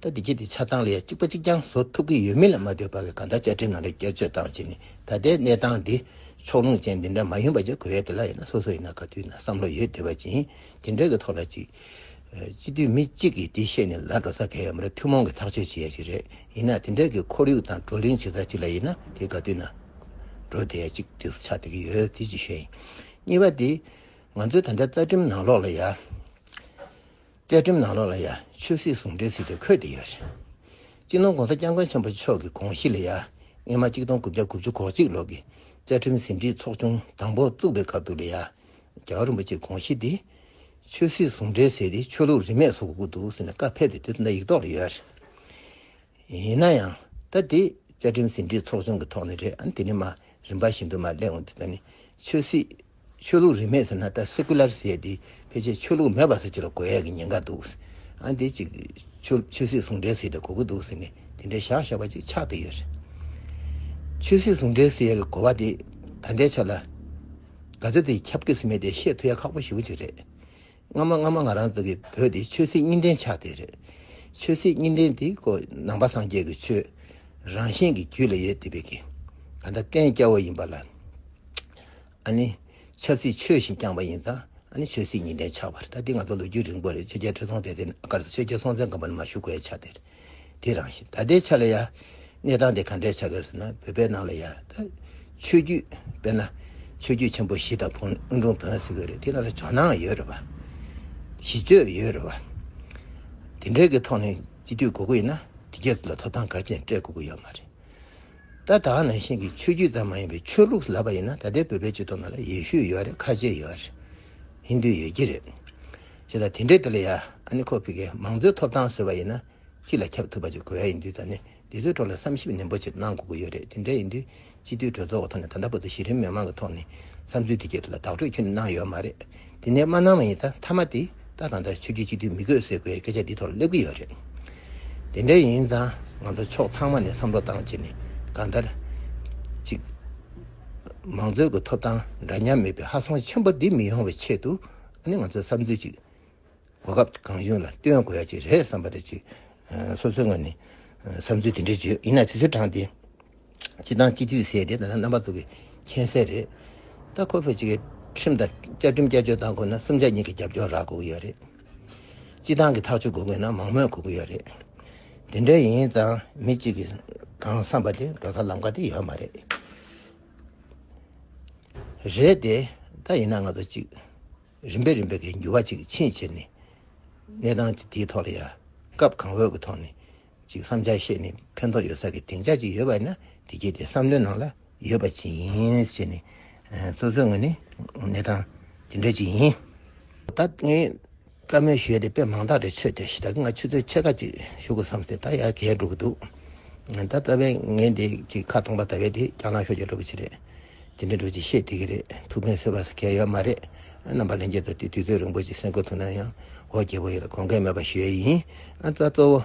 ད་ལྟའི་དེ་ཆ་ཚང་ལ་ཡང་གཅིག་པ་གཅིག་རྐྱང་བཟོ་ཐུབ་ཀྱི་ཡོད་མིན་ལ་མ་ལྟོས་པར་གང་ལྟར་བཅའ་ཁྲིམས་ནང་དུ་བསྐྱར་བཅོས་བཏང་རྗེས་ནས་ད་ལྟའི་གནས་སྟངས་འདི་ཕྱོགས་ལྷུང་ཅན་འདི་འདྲ་མ་ཡིན་པ་བཅས་གོ་ཡ་དེ་ལ་ཡིན་ན་སོ་སོ་ཡིན་ན་ག་དུས་ན་བསམ་བློ་ཡོད་དེ་བ་ཅན་དེ་འདྲ་གི་ཐོག་ལ་ཅིག་སྤྱི་འཐུས་མི་གཅིག་གིས་དེ་ཤེས་ནས་ལ་འགྲོ་ས་གལ་ཡོད་མ་རེད་ཐུན་མོང་གི་ཐག་གཅོད་བྱེད་ཡ་ཅིག་རེད་ཡིན་ན་དེ་འདྲ་གི་ཁོར་ཡུག་དང་བགྲོ་གླེང་བྱེད་ས་ཅིག་ལ་ཡིན་ན་དེ་ག་དུས་ན་འགྲོ་དེ་ཡ་ཅིག་དུས་སུ་ཆགས་བསྡད་ཀྱི་ཡོད་དེ་གཅིག་ཤོས་ཡིན་གཉིས་པ་དེ་ང་ཚོའི་ད་ལྟའི་རྩ་ཁྲིམས་ནང་ལོགས་ལ་ཡ། བཅའ་ཁྲིམས་ནང་ལོགས་ལ་ཡང་ཆོས་སྲིད་ཟུང་འབྲེལ་ཟེར་དུས་འཁོད་དེ་ཡོད། སྤྱི་ནོར ྋགོང་ས ྋསྐྱབས་མགོན་ཆེན་པོ་མཆོག་གི་དགོངས་གཞི་ལ་ཡང་སྔ་མ་གཅིག་སྟོང་དགུ་བརྒྱ་དགུ་བཅུ་གོ་གཅིག་ལོར་གྱི་བཅའ་ཁྲིམས་ཟིན་བྲིས་ཚོགས་ཆུང་དང་པོ་བཙུགས་པའི་སྐབས་དུ་ལ་ཡང་རྒྱལ་བ་རིན་པོ་ཆེའི་དགོངས་གཞི་དེ་ཆོས་སྲིད་ཟུང་འབྲེལ་ཟེར་ཏེ་ཆོས་ལུགས་རིས་མེད་བཟོ་དགོས་ཀྱི་འདུག་ཟེར་ནས་བཀའ་ཕེབས་ཏེ་དེ་ཚོ་འདྲ་ཡིག་ཐོག་ལ་ཡོད། ཡིན་ན་ཡང་ད་དེ་བཅའ་ཁྲིམས་ཟིན་བྲིས་ཚོགས་ཆུང་གི་ཐོག་ནས་རེད་ཨང་དེ་ནི་མ་རིན་པ་བཞིན་དུ་མ་ལེགས་འོང་དེ་ཚོ་ནི་ཆོས་སྲིད་ཆོས་ལུགས་རིས་མེད་ཟེར་ན་ད Secular ཟེར་ཏེ་ཕལ་ཆེར་ཆོས་ལུགས་མེད་པ་ཟེར་རྒྱུ་ལ་གོ་ཡ་གི་ཉེན་ཁ་འདུག། ཨ་འདི་ཅིག་ཆོས་ཆོས་སྲིད་ཟུང་འབྲེལ་ཟེར་ཏེ་གོ་གི་འདུག་ཟེར་ནས་དེ་འདྲའི་བཞག་བཞག་པ་ཅིག་ཆགས་བསྡད་ཡོད་རེད། ཆོས་སྲིད་ཟུང་འབྲེལ་ཟེར་ཡ་གི་གོ་བ་དེ་ད་ལྟའི་ཆ་ལ་ག་ཚོད་དེ་ཁྱབ་ཀི་ཟིན་མེད་དེ་བཤད་ཐུབ་ཡ་ཁག་པོ་ཞིག་པོ་ཅིག་རེད། སྔ་མ་སྔ་མ་ང་རང་ཚོ་གི་བོད་འདི་ཆོས་སྲིད་གཉིས་འདྲེན་ཆགས་དེ་རེད། ཆོས་སྲིད་གཉིས་འདྲེན་འདི་ཀོ་ནང་པ་སངས་རྒྱས་ཀྱི་ཆོས་རང་བཞིན་གྱི་རྒྱུད་ལ་ཡོད་དེ་བས་ཀྱི་ག་འདྲ་བསྟན་སྐྱ་བོ་ཡིན་པ་ལ་ཨ་ནི་ཆབ་སྲིད་ཆོས་བཞིན་བསྐྱངས་པ་ཡིན་ཙང་ཨ་ནི་ཆོས་སྲིད་གཉིས་འདྲེན་ཆགས་པ་རེད་ད་འདི་ང་ཚོ་ལོ་རྒྱུས་རིང་པོ་རེད་ཆོས་རྒྱལ་ཁྲི་སྲོང་ལྡེ་བཙན་སྒར་དུ་ཆོས་རྒྱལ་སྲོང་བཙན་སྒམ་པོ་ནས་མ་བཞུགས་གོའི་ཆ་དེ་རེད། དེ་རང་བཞིན་ད་ལྟའི་ཆ་ལ་ཡང་གནས་སྟངས་དེ་ག་འདྲའི་ཆགས་ཀྱི་རེད་ན་བོད་པའི་ནང་ལ་ཡང་ད་ཆོས་བརྒྱུད་དཔེར་ན་ཆོས་བརྒྱུད་ཆེན་པོ་བཞི་དང་བོན་ཨུ་འབྲུམ་བོན་ཟེར་གྱི་རེད་དེ་རང་ལ་ཇོ་ནང་ཡོད་རེད་པ། གཞི་བཅོལ་ཡོད་རེད་པ། དེ་འདྲའི་གི་ཐོག་ནས་སྤྱི་འཐུས་དགོས་ཀྱི་ཡིན་ན་དེ་རྒྱ་ལ་ཐོབ་ཐང་ག་ཅན་སྤྲད་དགོས་ཀྱི་ཡོད་མ་རེད། ད་ད་ནང་བཞིན་གྱི་ཆོས་བརྒྱུད་ཙམ་མ་ཡིན་པའི་ཆོས་ལུགས་ལབ་པ་ཡིན་ན་ད་ལྟའི་བོད་པའི་སྤྱི་ཚོགས་ནང་ལ་ཡེ་ཤུ་ཡོད་རེད་ཁ་ཆེ་ཡོད་རེད་ཧིན་དུ་ཡོད་ཀྱི་རེད། ཞེས་དང་དེ་འབྲེལ་དེ་ལ་ཡ་ཨ་ནི་ཁོ་ཕི་ཀའི་མང་གཙོའི་ཐོབ་ཐང་ཟེར་བ་ཡིན་ན་ཅི་ལ་ཁྱབ་ཐུབ་པ་ཅིག་དགོས་ཡ་ཡིན་དུས་ད་ནི་འདི་ཚོའི་ཐོག་ལ་བསམ་ཞིབ་ནན་པོ་ཆེད་གནང་དགོས་ཀྱི་ཡོད་རེད་དེ་འདྲ་ཡིན་དུས་སྤྱི་འཐུས་གྲོས་ཚོགས་ཀྱི་ཐོག་ནས་ད་ལྟ་བར་དུ་གཞི་རིམ་མི་མང་གི་ཐོག་ནས་བསམ་ཚུལ་དེ་གའི་ཐོག་ལ་བདག་སྤྲོད་ཁྱོད་ནས་གནང་ཡོད་མ་རེད་དེ་ནས་མ་གནང་བ་ཡིན་ད་མཐའ་མ་དེ་ལྟ་དང་ད་ཆོས་རྒྱུད་སྤྱི་འཐུས་མི་དགོས་ཟེར་དགོས་ཡ་སྐད་ཆ་འདི་ཐོག་ལ་སླེབས་ཀྱི་ཡོད་རེད་དེ་འདྲ་ཡིན་ཙང་ང་ཚོ་ཕྱོགས་ཚང་མ་ནས་བསམ་བློ་བཏང་རྗེས་ནས་གང་ལྟར་ཅིག་མང་གཙོའི་གི་ཐོབ་ཐང་འདྲ་མཉམ་མེད་པའི་ཧ་སོང་ཆེན་པོ་འདི་མི་ཡོང་བའི་ཆེད་དུ། ཨ་ནི་ང་ཚོའི་བསམ་ཚུལ་ཅིག་གོ་སྐབས་གང་བྱུང་ལ་སྟོན་དགོས་ཡ་ཅིག་རེད་བསམ་པ་རེད་ཅིག་སོ་སོའི་ངོས་ནས་བསམ་ཚུལ་དེ་འདྲ་བརྗོད་ཡིན་ན་དུས་ཚོད་དྲངས་ཏེ་སྤྱི་བཏང་སྤྱི་འཐུས་ཟེར་དེ་ད་ལྟ་རྣམ་པ་ཚོ་གི་མཁྱེན་གསལ་རེད་ད་ཁོ་བོས་ཅིག་ཁྲིམས་དང་བཅའ་ཁྲིམས་བསྐྱར་བཅོས་བཏང་དགོས་ན་སུམ་ཆ་གཉིས་ཀྱི་རྒྱབ་སྐྱོར་རག་དགོས་ཀྱི་ཡོད་རེད་སྤྱི་བཏང་གི་ཐག་གཅོད་དགོས་དགོས་ན་མང་མོས་དགོས་ཀྱི་ཡོད་རེད་དེ་འདྲ་ཡིན་ཙང་མི་གཅིག་གིས་གང་བསམ་པ་དེ་འགྲོ་ས་ལམ་ཀ་དེ་ཡོད་མ་རེད། རེད་དེ། ད་ཡིན་ན་ང་ཚོ་གཅིག་རིམ་པས་རིམ་པས་ཀྱི་འགྱུར་བ་གཅིག་ཕྱིན་བྱས་ནས་གནས་སྟངས་ཀྱི་དེའི་ཐོག་ལ་ཡ་སྐབས་གང་འོས་ཀྱི་ཐོག་ནས་གཅིག་བསམ་འཆར་བཤད་ནས་ཕན་ཐོག་ཡོད་ས་ཀྱི་སྡིངས་ཆ་གཅིག་ཡོད་པ་ཡིན་ན་དེ་རྗེས་དེ་བསམ་བློའི་ནང་ལ་ཡོད་པ་ཅི་ཡིན་བྱས་ནས། སོ་སོའི་ངོས་ནས་གནས་སྟངས་ཇི་འདྲ་ཅིག་ཡིན། ད་ངས། བཀའ་མོལ་ཞུས་ཏེ་དཔེ་མང་དག་རེ་འཚོལ་ཏེ་ད་གིན་ང་ཆུ་ཚོད་ཕྱེད་ཀ་གཅིག་བཞུགས་དགོས་བསམ་སྟེ་ད་ཡར་གས་འགྲོ་གི་འདུག་ད་ལྟ་བས་ངས་འདི་གཅིག་ཁ་སྟོང་པ་ད་བས་དེ་རྒྱ་ནག་ཤོག་ཅེས་འགྲོ་གི་ཆེད་རེད་དེ་འདྲའི་འགྲོ་གི་ཤེས་བདེ་གི་རེད་ཐུགས་ཕན་སོས་པ་ཟེར་མཁན་ཡོད་མ་རེད་རྣམ་པ་ལྷན་རྒྱས་ཚོ་དེ་དུས་ཚོད་རིང་པོ་ཅིག་སེམས་ཁུར་ཐུབ་ན་ཡང་འོ་རྒྱལ་པོ་ཡིན་ལ་དགོངས་འགལ་མེད་པ་ཞུས་ཡིན་ད་གཙོ་བོ་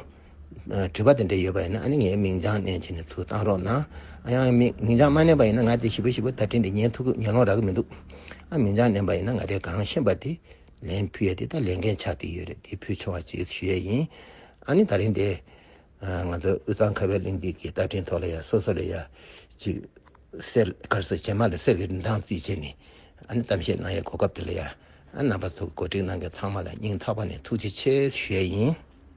དྲི་བ་དེ་འདྲ་ཡོད་པ་ཡིན་ན་ཨ་ནི་ངའི་མིང་བྱང་བསྣན་བྱས་ནས་ཚུར་བཏང་རོགས་གནང་ཡང་མིང་བྱང་མ་བསྣན་པ་ཡིན་ན་ང་དེ་ཞིབ་པོ་ཞིབ་པོ་ད་དྲིས་འདི་ཉན་ཐུག་གི་ཉན་ལོང་རག་གི་མི་འདུག་ཨ་མིང་བྱང་བསྣན་པ་ཡིན་ན་ང་དེ་གང་ཤེས་པ་དེ་ལན་ཕུལ་ཡ་དེ་ད་ལས་འགན་ཆགས་ཀྱི་ཡོད་རེད་དེ་ཕུལ་ཆོག་ཅེས་ཞུ་ཡ་ཡིན་ཨ་ནི་ད་རིང་འདི་ང་ཚོ་དབུས་གཙང་ཁ་བའི་གླིང་འདི་གི་བརྡ་འཕྲིན་ཐོག་ལ་ཡ་སོ་སོ་ལ་ཡ་གཅིག་གསལ་དཀར་སེར་བྱེས་མ་ལ་གསལ་གྱི་རིན་ཐང་རྩིས་བྱས་ནས་ཨ་ནི་གཏམ་བཤད་གནང་ཡའི་གོ་སྐབས་དེ་ལ་ཡ་ཨ་ནང་པ་ཚོ་གོ་སྒྲིག་གནང་མཁན་ཚང་མ་ལ་སྙིང་ཐག་པ་ནས་ཐུགས་རྗེ་ཆེ་ཞུ་ཡ་ཡིན།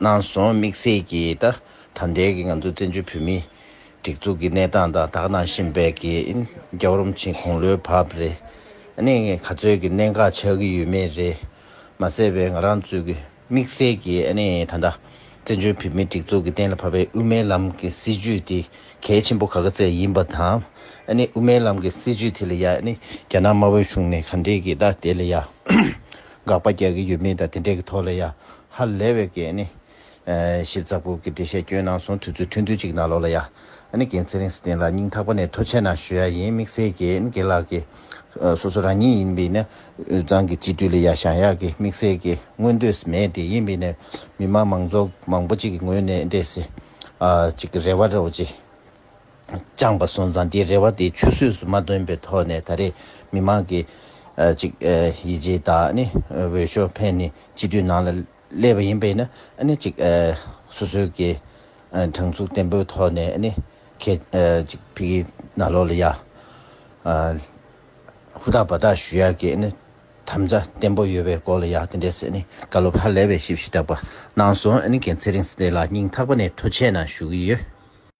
གནང་སོང་དམིགས་བསལ་གྱིས་ད་ལྟའི་ང་ཚོ་བཙན་བྱོལ་བོད་མིའི་སྒྲིག་འཛུགས་ཀྱི་གནས་སྟངས་དང་དག་སྣང་ཤེས་དཔལ་གྱི་རྒྱབ་རོམ་ཕྱིན་གོང་ལོའི་བབ་རེ་ནས་ག་ཚོད་ཀྱི་གནད་འགག་ཆགས་ཀྱི་ཡོད་མེད་རེད་མ་ཟེར་བའི་ང་རང་ཚོས་དམིགས་བསལ་གྱིས་ད་ལྟ་བཙན་བྱོལ་བོད་མིའི་སྒྲིག་འཛུགས་ཀྱི་གཏན་ལ་ཕབ་པའི་དབུ་མའི་ལམ་གྱི་སྲིད་བྱུས་དེ་གལ་ཆེན་པོ་ག་ག་ཚད་ཡིན་པ་དང་དབུ་མའི་ལམ་གྱི་སྲིད་བྱུས་དེ་ལ་རྒྱ་ནག་དམར་བོའི་གཞུང་ནས་ག་འདྲའི་གི་དེ་ལ་ཡ་འགག་པ་རྒྱག་གི་ཡོད་མེད་དང་དེ་འདྲའི་གི་ཐོག་ལ་ཡ་ཧ་ལས་བའི་གེ་ནི། ཞིབ་ཚགས་པོ་གི་འགྲེལ་བཤད་བསྐྱོན་གནང་སོང་དུས་ཚོད་ཐུང་ཐུང་ཅིག་གནང་ལོག་ལ་ཡ། ཨ་ནི་གེ་ཚེ་རིང་སི་ཏན་ལགས་སྙིང་ཐག་པ་ནས་ཐོ་ཆད་གནང་ཞུ་ཡ་ཡིན་དམིགས་བསལ་གེ་ནི་གེ་ལགས་ཀི། སོ་སོ་རང་ཉིད་ཡིན་པི་ནི་འུ་ཚང་གི་སྤྱི་འཐུས་ལ་ཡ་བཞང་ཡག་གི་དམིགས་བསལ་གེ་མངོན་འདོད་སི་མེད་དེ་ཡིན་པི་ནི་མི་མང་མང་ཚོགས་མང་པོ་ཅིག་གི་ངོས་ནས་འདྲེ་སི། ཅིག་གི་རེ་བ་རོ་ཅི། བཅངས་པ་སོང་ཙང་དེའི་རེ་བ་དེ་ཆུད་ཟོས་སུ་མ་ཐོན་པའི་ཐོག་ནས་ད་རེས་མི་མང་གི་ཅིག་ཡིད་ཆེས་དང་འོས་ཤོག་འཕེན་ནས་སྤྱི་འཐུས་ནང་ལ་སླེབས་པ་ཡིན་པས་ན་ཅིག་སོ་སོའི་གི་དྲང་ཚུགས་བརྟན་པོའི་ཐོག་ནས་ཁས་ཅིག་ཕིག་གི་ན་ལོག་ལ་ཡ་ཧུ་ཐག་པ་ཐག་ཞུ་ཡ་གི་དམ་བཅའ་བརྟན་པོ་ཡོད་པའི་སྐོར་ལ་ཡ་དེ་འདྲས་བཀའ་སློབ་ཧ་ལས་པའི་ཞིབ་བཤེར་དྲག་པ་གནང་སོང་གལ་ཚེ་རིང་སི་ཏེ་ལགས་སྙིང་ཐག་པ་ནས་ཐུགས་ཆེ་ན་ཞུ་གི་ཡོད།